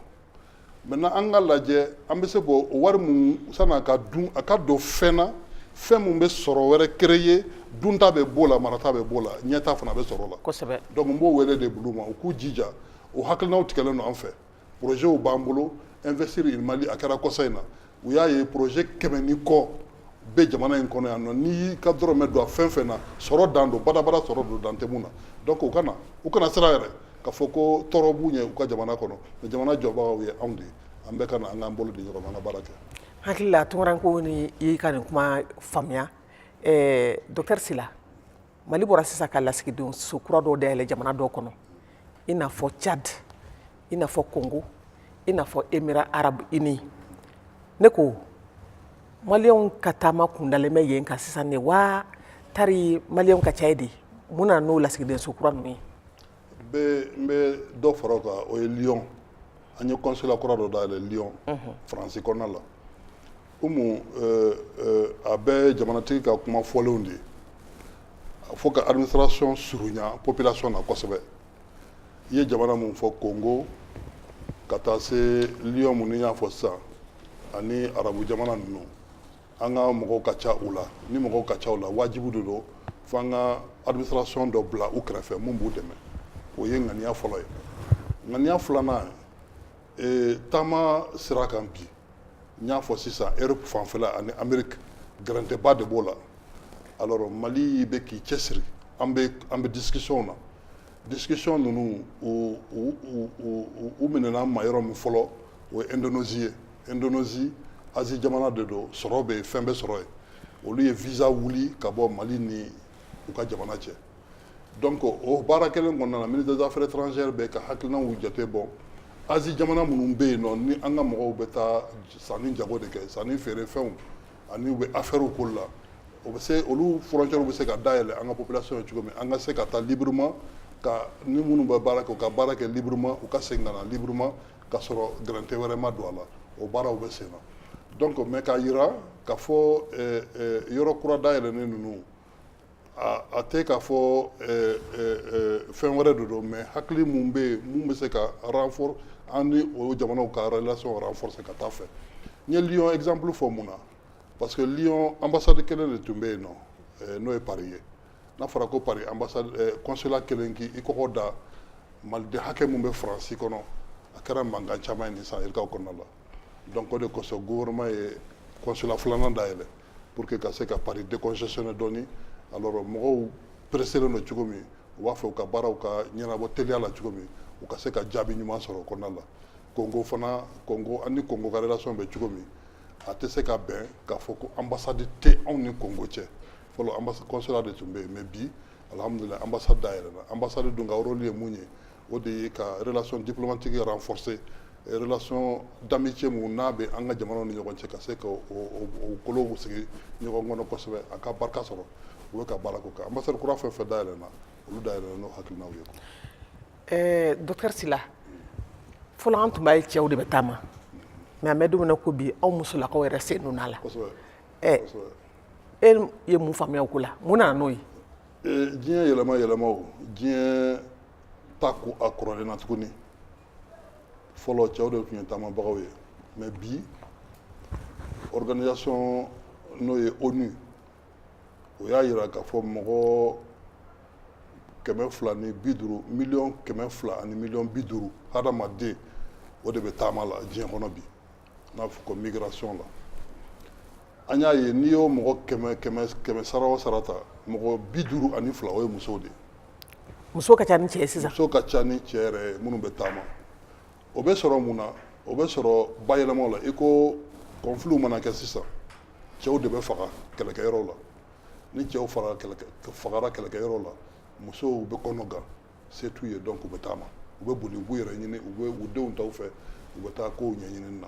maintenant an k'a lajɛ an bɛ se k'o wari min sann'a ka dun a ka don fɛn na fɛn min bɛ sɔrɔ wɛrɛ créer dunta bɛ b'o la marata bɛ b'o la ɲɛta fana bɛ sɔrɔ o la kosɛbɛ donc n b'o wele de bil'u ma u k'u jija o hakilinaw tigɛlen don an fɛ projets b'an bolo investir in mali a kɛra kɔsa in na u y'a ye projet kɛmɛ ni kɔ bɛ jamana in kɔnɔ yan nɔ n'i y'i ka dɔrɔmɛ don a fɛn fɛn na sɔrɔ dan don badabada sɔrɔ don dan tɛ mun na donc u kana u kana siran yɛrɛ k'a fɔ ko tɔɔrɔ b'u ɲɛ u ka jamana kɔnɔ mais jamana jɔbagaw ye anw de ye an bɛɛ ka na an k'an bolo di ɲɔgɔn ma an ka baara kɛ hakili la tunkarankew ni y'i ka nin kuma faamuya ɛɛ docteur sila mali bɔra sisan ka lasigidenw so kura dɔw dayɛlɛ jamana dɔw kɔnɔ i n'a fɔ tchad i n'a fɔ congo i n'a fɔ émirats arabes unis ne ko maliyɛnw ka taama kundalen bɛ yen kan sisan ne wa tari maliyɛnw ka ca yen de mun na n'o lasigiden so kura ninnu ye n bɛ dɔ fara o kan o ye lyon an ye consulat kura dɔ dayɛlɛ lyon faransi kɔnɔna la umu a bɛɛ jamanatigi ka kuma fɔlenw de ye a fo ka administration surunya population na kosɛbɛ i ye jamana min fɔ kongo ka taa se lyon min n y'a fɔ sisan ani arabu jamana ninnu an ka mɔgɔw ka ca u la ni mɔgɔw ka ca u la wajibi de don fo an ka administration dɔ bila u kɛrɛfɛ min b'u dɛmɛ o ye ŋaniya fɔlɔ ye ŋaniya filanan ye Ee taama sira kan bi n y'a fɔ sisan europe fanfɛla ani amérique gɛrɛntɛba de b'o la alors mali bɛ k'i cɛsiri an bɛ discussionw na discussion ninnu u minɛna ma yɔrɔ min fɔlɔ o ye indonésie ye indonésie asie jamana de don sɔrɔ bɛ yen fɛn bɛ sɔrɔ yen olu ye visa wuli ka bɔ mali ni u ka jamana cɛ donc o baara kelen kɔnɔna na ministre des affaires étrangères bɛ ka hakilinaw jate bɔ asie jamana minnu bɛ yen nɔ ni an ka mɔgɔw bɛ taa sanni jago de kɛ sanni feere fɛnw ani u bɛ affaires k'o la o bɛ se olu frontières bɛ se ka dayɛlɛ an ka population ye cogo min an ka se ka taa librement ka ni minnu bɛ baara kɛ u ka baara kɛ librement u ka segin ka na librement k'a sɔrɔ gɛrɛntɛ wɛrɛ ma don a la o baaraw bɛ sen na donc mais k'a jira k'a fɔ yɔrɔ kura dayɛlɛnnen ninnu a tɛ k'a fɔ fɛn wɛrɛ de don mais hakili min bɛ yen min bɛ se ka renforcer an ni o jamanaw ka relation renforcer ka taa fɛ n ye lyon exemple fɔ mun na parce que lyon ambassade kelen de tun bɛ yen nɔ n'o ye paris ye n'a fɔra ko paris ambassade consulat kelen k'i kɔgɔ da maliden hakɛ min bɛ faransi kɔnɔ a kɛra mankan caman ye nin san yirikaw kɔnɔna la donc o de kosɔn gouvernement ye consulat filanan dayɛlɛ pour que ka se ka paris décongestionner dɔɔni alors mɔgɔw presselen don cogo min u b'a fɛ u ka baaraw ka ɲɛnabɔ teliya la cogo min u ka se ka jaabi ɲuman sɔrɔ o kɔnɔna la kongo fana kongo an ni kongo ka relation bɛ cogo min a tɛ se ka bɛn k'a fɔ ko ambassade tɛ anw ni kongo cɛ fɔlɔ consulat de tun bɛ yen mais bi alihamudulila ambassade dayɛlɛla ambassade dun ka rôle ye mun ye o de ye ka relation diplomatique renforcer relation d'amitié mun n'a bɛ an ka jamanaw ni ɲɔgɔn cɛ ka se ka o kolow sigi ɲɔgɔn kɔnɔ kosɛbɛ a ka barika sɔrɔ u bɛ ka baara k'o kan ambassade kura fɛn o fɛn dayɛlɛnna olu dayɛlɛnna n'o hakilinaw ye ɛɛ docteur Sila fɔlɔ an tun b'a ye cɛw de bɛ taama mais an bɛ don min na ko bi aw musolakaw yɛrɛ sen donna a la kosɛbɛ ɛɛ e ye mun faamuya o ko la mun nana n'o ye diɲɛ yɛlɛma yɛlɛmaw diɲɛ t'a ko a kɔrɔlen na tuguni fɔlɔ cɛw de tun ye taamabagaw ye mais bi organisation n'o ye ONU o y'a jira k'a fɔ mɔgɔ kɛmɛ fila ni bi duuru miliyɔn kɛmɛ fila ani miliyɔn bi duuru hadamaden o de bɛ taama la diɲɛ kɔnɔ bi n b'a fɔ ko migration la an y'a ye n'i y'o mɔgɔ kɛmɛ sara o sara ta mɔgɔ bi duuru ani fila o ye musow de ye muso ka ca ni cɛ ye sisan muso ka ca ni cɛ yɛrɛ ye minnu bɛ taama o bɛ sɔrɔ mun na o bɛ sɔrɔ bayɛlɛmaw la i ko conflit mana kɛ sisan cɛw de bɛ faga kɛlɛkɛyɔrɔw la ni cɛw fagara kɛlɛkɛyɔrɔw la musow bɛ kɔnɔgan se t'u ye donc u bɛ taama u bɛ boli u b'u yɛrɛ ɲini u bɛ u denw ta u fɛ u bɛ taa kow ɲɛɲini na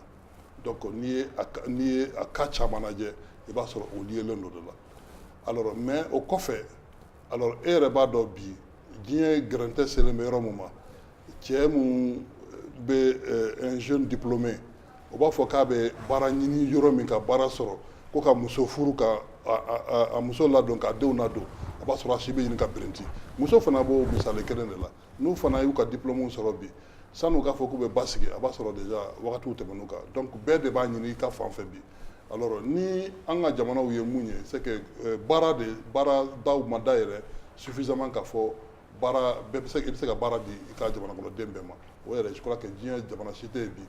donc n'i ye n'i ye a cas caman lajɛ i b'a sɔrɔ o liélen don o de la alors mais o kɔfɛ alors e yɛrɛ b'a dɔn bi diɲɛ gɛrɛntɛ selen bɛ yɔrɔ min ma cɛ min bɛ un jeune diplômé o b'a fɔ k'a bɛ baara ɲini yɔrɔ min ka baara sɔrɔ ko ka muso furu k'a muso ladon k'a denw ladon a b'a sɔrɔ a si bɛ ɲini ka birinti muso fana b'o misali kelen de la n'u fana y'u ka diplɔmuw sɔrɔ bi san'u k'a fɔ k'u bɛ basigi a b'a sɔrɔ déjà wagatiw tɛmɛn'u kan donc bɛɛ de b'a ɲini i ka fan fɛ bi alors ni an ka jamanaw ye mun ye c'est que euh, baara de baaradaw ma dayɛlɛ suffisamment k'a fɔ baara bɛɛ bɛ se i bɛ se ka baara di i ka jamanakɔnɔden bɛɛ ma o yɛrɛ je crois que diɲɛ jamana si tɛ yen bi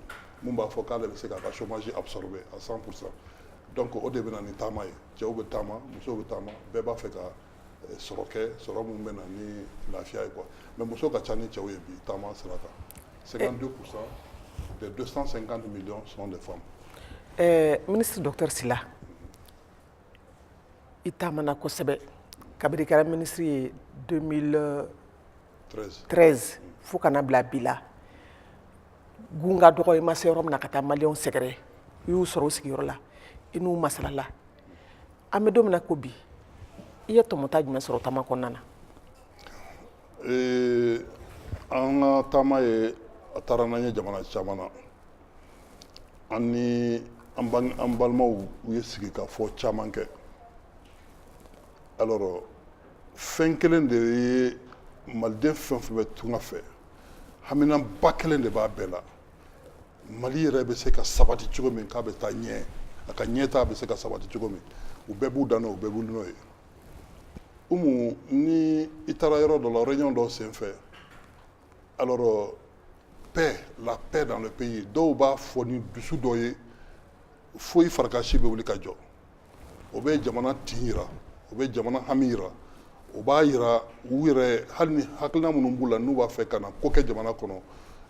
mun b'a fɔ k'ale bɛ se k'a ka chômage absorber à 100 pour cent donc o de bɛ na ni taama ye cɛw bɛ taama musow bɛ taama bɛɛ b'a fɛ ka eh, sɔrɔ kɛ sɔrɔ min bɛ na ni lafiya ye quoi mais muso ka ca ni cɛw ye bi taama sira kan 52 pour cent des 250 millions sont des femmes ɛɛ ministre docteur Sila i taamana kosɛbɛ kabiri i kɛra ministre ye 2013 fo ka n'a bila bi la gun ka dɔgɔ i ma se yɔrɔ min na ka taa maliyɛnw sɛgɛrɛ i y'u sɔrɔ u sigiyɔrɔ la i n'u masalala an bɛ don min na ko bi i ye tɔmɔta jumɛn sɔrɔ taama kɔnɔna na an ka taama ye a taara n'an ye jamana caman na an ni an balimaw u ye sigikafɔ caman kɛ alors fɛn kelen de ye maliden fɛn fɛn bɛ tunga fɛ haminanba kelen de b'a bɛɛ la mali yɛrɛ bɛ se ka sabati cogo min k'a bɛ taa ɲɛ a ka ɲɛtaa bɛ se ka sabati cogo min u bɛɛ b'u da n'o u bɛɛ bɛ wuli n'o ye umu ni i taara yɔrɔ dɔ la réunion dɔ senfɛ alors paix la paix dans le pays dɔw b'a fɔ ni dusu dɔ ye fo i farikansi bɛ wuli ka jɔ o bɛ jamana tin yira o bɛ jamana hami yira o b'a yira u yɛrɛ hali ni hakilina minnu b'u la n'u b'a fɛ ka na ko kɛ jamana kɔnɔ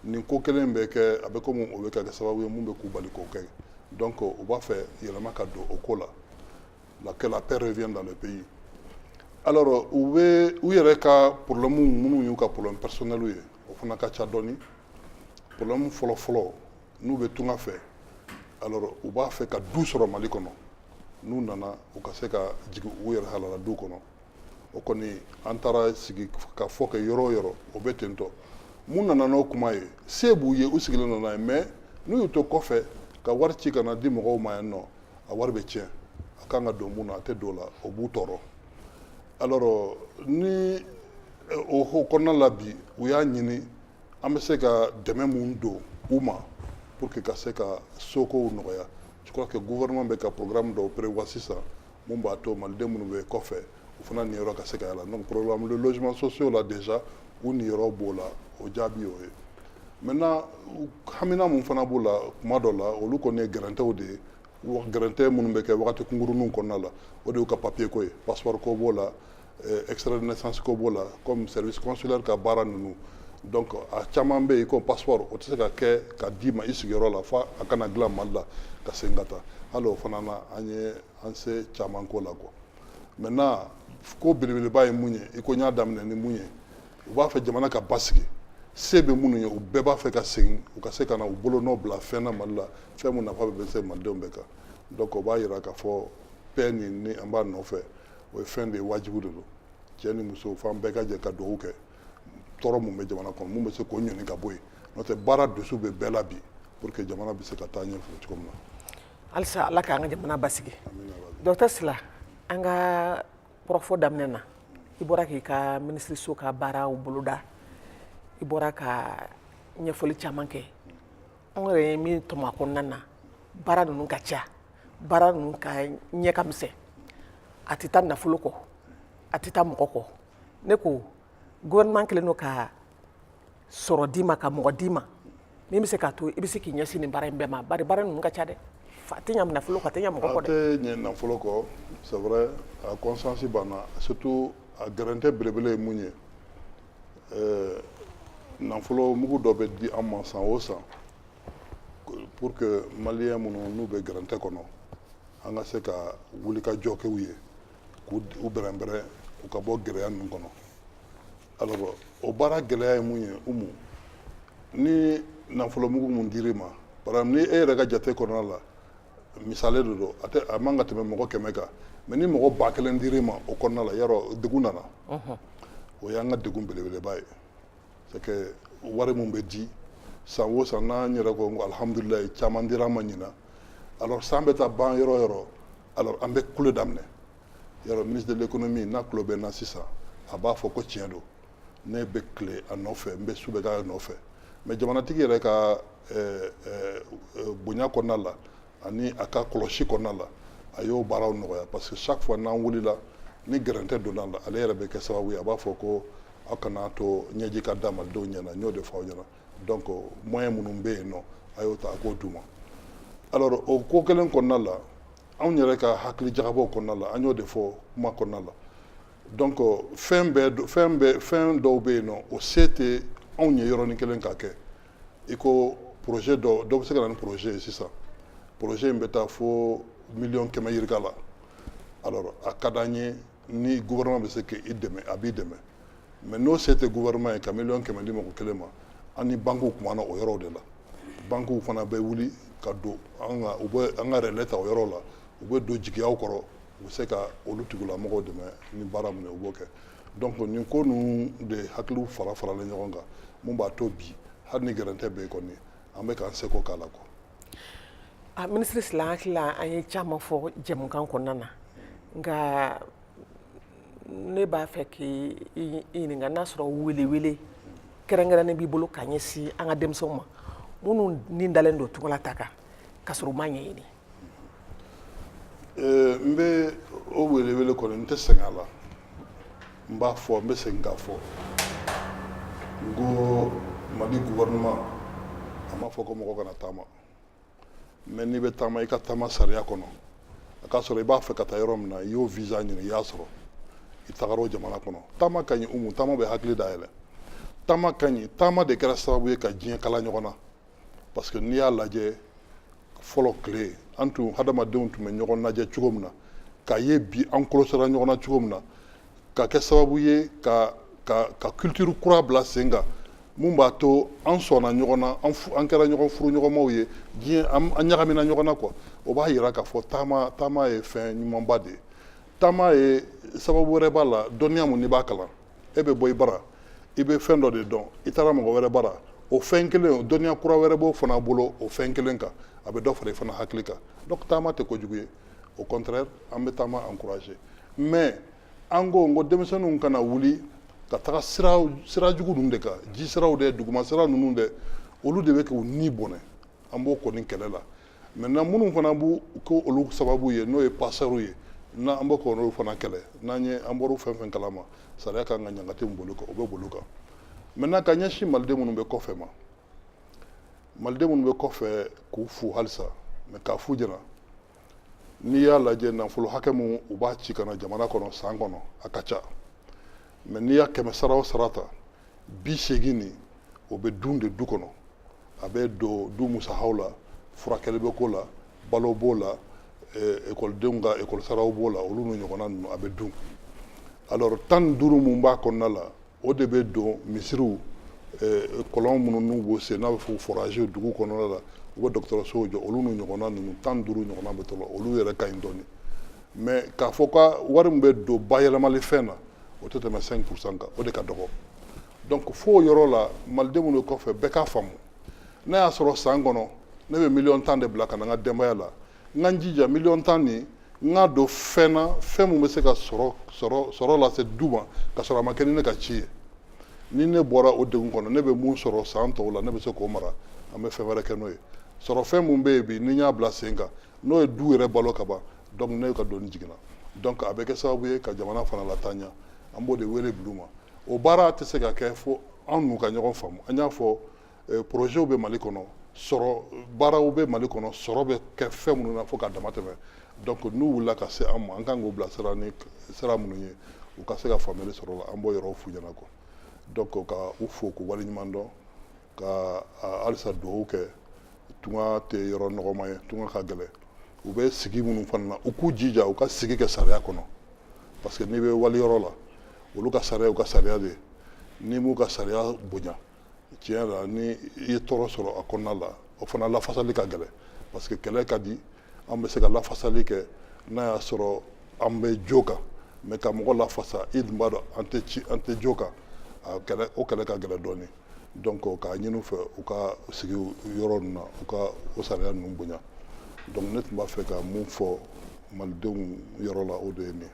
nin ko kelen bɛ kɛ a bɛ komi o bɛ ka kɛ sababu ye mun bɛ k'u bali k'o kɛ donc u b'a fɛ yɛlɛma ka don o ko la la que la paix revienne dans le pays alors u yɛrɛ ka problème minnu y'u ka problème personnel ye o fana ka ca dɔɔni problème fɔlɔ fɔlɔ n'u bɛ tunga fɛ alors u b'a fɛ ka du sɔrɔ Mali kɔnɔ n'u nana u ka se ka jigin u yɛrɛ halala du kɔnɔ o kɔni an taara sigikafɔ kɛ yɔrɔ o yɔrɔ o bɛ ten tɔ mun nana n'o kuma ye se b'u ye u sigilen nana ye mais n'u y'u to kɔfɛ ka wari ci ka na di mɔgɔw ma yan nɔ a wari bɛ tiɲɛ a kan ka don mun na a tɛ don o la o b'u tɔɔrɔ alors ni eh, o ko kɔnɔna la bi u y'a ɲini an bɛ se ka dɛmɛ mun don u ma pour que ka se ka sokow nɔgɔya je crois que gouvernement bɛ ka programme dɔw prévoir sisan mun b'a to maliden minnu bɛ kɔfɛ u fana niyɔrɔ ka se ka y'a la donc programme de logement sociaux la déjà u niyɔrɔ b'o la o jaabi y'o ye maintenant hamina mun fana b'u la kuma dɔ la olu kɔni ye gɛrɛntɛw de ye gɛrɛntɛ minnu bɛ kɛ wagati kunkurunninw kɔnɔna la o de y'u ka papier ko ye passeport ko b'o la eh, extrait de naissance ko b'o la comme service consulaire ka baara ninnu donc a caman bɛ yen ko passeport o tɛ se ka kɛ ka d'i ma i sigiyɔrɔ la fo a ka na dilan mali la ka segin ka taa hali o fana na an ye an se caman k'o la quoi maintenant ko belebeleba ye mun ye i ko n y'a daminɛ ni mun ye u b'a fɛ jamana ka basigi se bɛ minnu ye u bɛɛ b'a fɛ ka segin u ka se ka na u bolonɔ bila fɛn na mali la fɛn mun nafa bɛ se malidenw bɛɛ kan donc o b'a yira k'a fɔ paix nin ni an b'a nɔfɛ o ye fɛn de ye wajibu de don cɛ ni muso f'an bɛɛ ka jɛ ka dugawu kɛ tɔɔrɔ mun bɛ jamana kɔnɔ mun bɛ se k'o ɲɔni ka bɔ yen n'o tɛ baara dusu bɛ bɛɛ la bi pour que jamana bɛ se ka taa ɲɛfɛ cogo min na halisa ala k'an ka jamana basigi docteur sila an ka kɔrɔfɔ daminɛ na i bɔra k'i ka minisiriso ka baaraw boloda i bɔra ka ɲɛfɔli caman kɛ an yɛrɛ ye min tɔmɔ a kɔnɔna na baara ninnu ka ca baara ninnu ka ɲɛ ka misɛn a tɛ taa nafolo kɔ a tɛ taa mɔgɔ kɔ ne ko gouvernement kɛlen don ka sɔrɔ d'i ma ka mɔgɔ d'i ma min bɛ se k'a to i bɛ se k'i ɲɛsin nin baara in bɛɛ ma bari baara ninnu ka ca dɛ a tɛ ɲɛ nafolo kɔ a tɛ ɲɛ mɔgɔ kɔ dɛ a tɛ ɲɛ nafolo kɔ c'est vrai a conscience b'an na surtout a gɛrɛntɛ belebele ye mun ye ɛɛ nafolo mugu dɔ bɛ di an ma san o san pour que maliyɛn minnu n'u bɛ gɛrɛntɛ kɔnɔ an ka se ka wulikajɔ kɛ u ye k'u bɛrɛnbɛrɛn u ka bɔ gɛlɛya ninnu kɔnɔ alors o baara gɛlɛya ye mun ye Umu ni nafolomugu mun dir'i ma par exemple ni e yɛrɛ ka jate kɔnɔna la misale de don a man ka tɛmɛ mɔgɔ kɛmɛ kan mais ni mɔgɔ ba kelen dir'i ma o kɔnɔna la yarɔ degun nana o y'an ka degun belebeleba ye c'est que wari mun bɛ di san o san n'an yɛrɛ ko ko alihamudulilayi caman dira an ma ɲinan alors san bɛ taa ban yɔrɔ o yɔrɔ alors an bɛ kule daminɛ yɔrɔ ministre de l'économie n'a tulo bɛ n na sisan a b'a fɔ ko tiɲɛ don ne bɛ tile a nɔfɛ n bɛ su bɛɛ k'a nɔfɛ mais jamanatigi yɛrɛ ka eh, eh, eh, bonya kɔnɔna la ani a ka kɔlɔsi kɔnɔna la a y'o baaraw nɔgɔya parce que chaque fois n'an wulila ni gɛrɛntɛ donna la ale yɛrɛ bɛ kɛ sababu ye a b'a fɔ ko aw kana to ɲɛji ka da malidenw ɲɛna n y'o de fɔ aw ɲɛna donc moyen minnu bɛ yen nɔ a y'o ta a k'o d'u ma alors o ko kelen kɔnɔna la anw yɛrɛ ka hakili jagabɔw kɔnɔna la an y'o de fɔ kuma kɔnɔna la donc fɛn bɛɛ fɛn bɛɛ fɛn dɔw bɛ yen nɔ o se tɛ anw ye yɔrɔnin kelen k'a kɛ i ko projet dɔ dɔ bɛ se ka na ni projet ye sisan projet in bɛ taa fo miliyɔn kɛmɛ yirika la alors a ka d'an ye ni gouvernement bɛ se ka i dɛmɛ a b'i dɛmɛ mais n'o se tɛ gouvernement ye ka miliyɔn kɛmɛ di mɔgɔ kelen ma an ni bankiw kumana o yɔrɔw de la bankiw fana bɛ wuli ka don an ka u bɛ an ka relais ta o yɔrɔ la u bɛ don jigiyaw kɔrɔ u bɛ se ka olu tigilamɔgɔw dɛmɛ ni baara min ye u b'o kɛ donc nin ko ninnu de hakiliw farafaralen ɲɔgɔn kan mun b'a to bi hali ni gɛrɛntɛ bɛ yen kɔni an bɛ k'an seko k'a la quoi A minisiri Sila n hakili la an ye caman fɔ jɛmukan kɔnɔna na nka ne b'a fɛ k'i ɲininka n'a sɔrɔ welewele kɛrɛnkɛrɛnnen b'i bolo ka ɲɛsin an ka denmisɛnw ma minnu ni dalen don tunga la taa kan k'a sɔrɔ u m'a ɲɛɲini Euh, n bɛ o welewele kɔni n tɛ sɛgɛn a la n b'a fɔ n bɛ segin k'a fɔ n ko mali gouvernement a m'a fɔ ko mɔgɔ kana taama mais n'i bɛ taama i ka taama sariya kɔnɔ a k'a sɔrɔ i b'a fɛ ka taa yɔrɔ min na i y'o visa ɲini i y'a sɔrɔ i tagara o jamana kɔnɔ taama ka ɲi umu taama bɛ hakili dayɛlɛ taama ka ɲi taama de kɛra sababu ye ka diɲɛ kala ɲɔgɔn na parce que n'i y'a lajɛ fɔlɔ tile an tun hadamadenw tun bɛ ɲɔgɔn lajɛ cogo min na k'a ye bi an kɔlɔsira ɲɔgɔn na cogo min na ka kɛ sababu ye ka ka ka culture kura bila sen kan mun b'a to an sɔnna ɲɔgɔn na an fu- an kɛra ɲɔgɔn furuɲɔgɔnmaw ye diɲɛ an an ɲagamina ɲɔgɔn na quoi o b'a yira k'a fɔ taama taama ye fɛn ɲumanba de ye taama ye sababu wɛrɛ b'a la dɔnniya mun n'i b'a kalan e bɛ bɔ i bara i bɛ fɛn dɔ de dɔn i taara mɔgɔ wɛrɛ bara o fɛn kelen o dɔnniya kura wɛrɛ b'o fana bolo o fɛn kelen kan a bɛ dɔ fara i fana hakili kan donc taama tɛ kojugu ye au contraire an bɛ taama encourager mais an ko n ko denmisɛnninw kana wuli ka taga sira sira jugu ninnu de kan ji siraw dɛ duguma sira ninnu dɛ olu de bɛ k'u ni bɔnɛ an b'o kɔni kɛlɛ la maintenant minnu fana bɛ ko olu sababu ye n'o ye passeurs ye n'an bɛ k'olu fana kɛlɛ n'an ye an bɔra fɛn fɛn kalama sariya ka kan ka ɲangata min boli u kan o bɛ boli u kan maintenant ka ɲɛsin maliden minnu bɛ kɔfɛ ma maliden minnu bɛ kɔfɛ k'u fo halisa mais k'a f'u ɲɛna n'i y'a lajɛ nafolo hakɛ min u b'a ci ka na jamana kɔnɔ san kɔnɔ a ka ca mais n'i y'a kɛmɛ sara o sara ta bi seegin nin o bɛ dun de du kɔnɔ a bɛ don du musakaw la furakɛli bɛ k'o la balo b'o la eh, ekɔlidenw ka ekɔlisaraw b'o la olu n'u ɲɔgɔnna ninnu a bɛ dun alors tan ni duuru mun b'a kɔnɔna la o de bɛ don misiriw eh, kɔlɔn minnu n'u b'o sen n'a bɛ fɔ forage dugu kɔnɔna la u bɛ dɔgɔtɔrɔsow jɔ olu n'u ɲɔgɔnna ninnu tan ni duuru ɲɔgɔnna bɛ t'o la olu yɛrɛ ka ɲi dɔɔni mais k'a fɔ ka wari min bɛ don bayɛlɛmali fɛn na o tɛ tɛmɛ 5 pourcent kan o de ka dɔgɔ donc fo yɔrɔ la maliden minnu bɛ kɔfɛ bɛɛ k'a faamu n'a y'a sɔrɔ san kɔnɔ ne bɛ miliyɔn tan de bila ka na n ka denbaya la n ka n jija miliyɔn tan nin n ka don fɛn na fɛn min bɛ se ka sɔrɔ sɔrɔ sɔrɔ lase du ma ka sɔrɔ a ma kɛ ni ne ka ci ye ni ne bɔra o degun kɔnɔ ne bɛ mun sɔrɔ san tɔw la ne bɛ se k'o mara an bɛ fɛn wɛrɛ kɛ n'o ye sɔrɔ fɛn min bɛ yen bi ni n y'a bila sen kan n'o ye du yɛrɛ balo kaban donc ne ka doni jiginna donc a bɛ kɛ sababu ye ka jamana fana lataa ɲɛ an b'o de wele bil'u ma o baara tɛ se ka kɛ fo an n'u ka ɲɔgɔn faamu an y'a fɔ eh, projets bɛ mali kɔnɔ sɔrɔ baaraw bɛ mali kɔnɔ sɔrɔ bɛ kɛ fɛn minnu na fo ka damatɛmɛ donc n'u wulila ka se an ma an kan k'u bila sira ni sira minnu ye u ka se ka faamuyali sɔrɔ la an b'o yɔrɔw f'u ɲɛna quoi donc ka u fo k'u waleɲuman dɔn ka halisa dugawu kɛ tunga tɛ yɔrɔ nɔgɔma ye tunga ka gɛlɛn u bɛ sigi minnu fana na u k'u jija u ka sigi kɛ sariya kɔnɔ parce que n'i bɛ wali yɔrɔ la olu ka sariya u ka sariya de n'i m'u ka sariya bonya tiɲɛ la ni i ye tɔɔrɔ sɔrɔ a kɔnɔna la o fana lafasali ka gɛlɛn parce que kɛlɛ ka di an bɛ se ka lafasali kɛ n'a y'a sɔrɔ an bɛ jo kan mais ka mɔgɔ lafasa i dun b'a dɔn an tɛ jo kan o kɛlɛ ka gɛlɛn dɔɔnin donc k'a ɲini u fɛ u ka sigi yɔrɔ ninnu na u ka o sariya ninnu bonya donc ne tun b'a fɛ ka min fɔ malidenw yɔrɔ la o de ye nin ye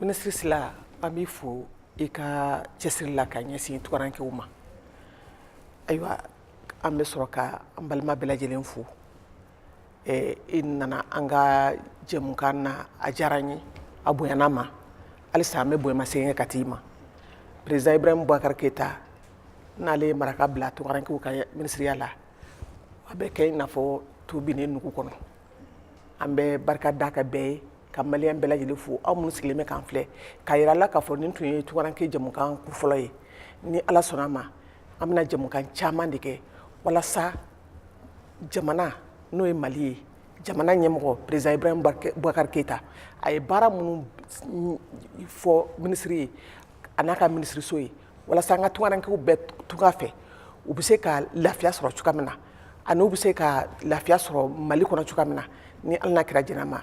minisiri sila an b'i fo i ka cɛsiri la ka ɲɛsin tunkarankew ma ayiwa an bɛ sɔrɔ ka an balima bɛɛ lajɛlen fo i nana an ka jɛmukan na a diyara n ye a bonyana n ma halisa an bɛ bonyama segin kɛ ka t'i ma président ibrahim boubacar keyita n'ale ye maraka bila tunkarankew ka minisiriya la a bɛ kɛ i n'a fɔ to binnen nugu kɔnɔ an bɛ barika da ka bɛɛ ye ka maliyɛn bɛɛ lajɛlen fo aw minnu sigilen bɛ k'an filɛ k'a yira la k'a fɔ nin tun ye tunkaranke jɛmukan kun fɔlɔ ye ni ala sɔnna a ma an bɛna jɛmukan caman de kɛ walasa jamana n'o ye mali ye jamana ɲɛmɔgɔ président ibrahim bubakari keyita a ye baara minnu fɔ minisiri ye a n'a ka minisiriso ye walasa an ka tungarankew bɛɛ tunga fɛ u bɛ se ka lafiya sɔrɔ cogoya min na ani u bɛ se ka lafiya sɔrɔ mali kɔnɔ cogoya min na ni ala n'a kira jɛnn'a ma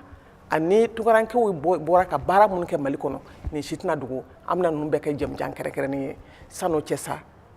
ani tungarankew bɔra ka baara minnu kɛ mali kɔnɔ nin si tɛna dogo an bɛna ninnu bɛɛ kɛ jɛmujan kɛrɛnkɛrɛnnen ye san'o cɛ sa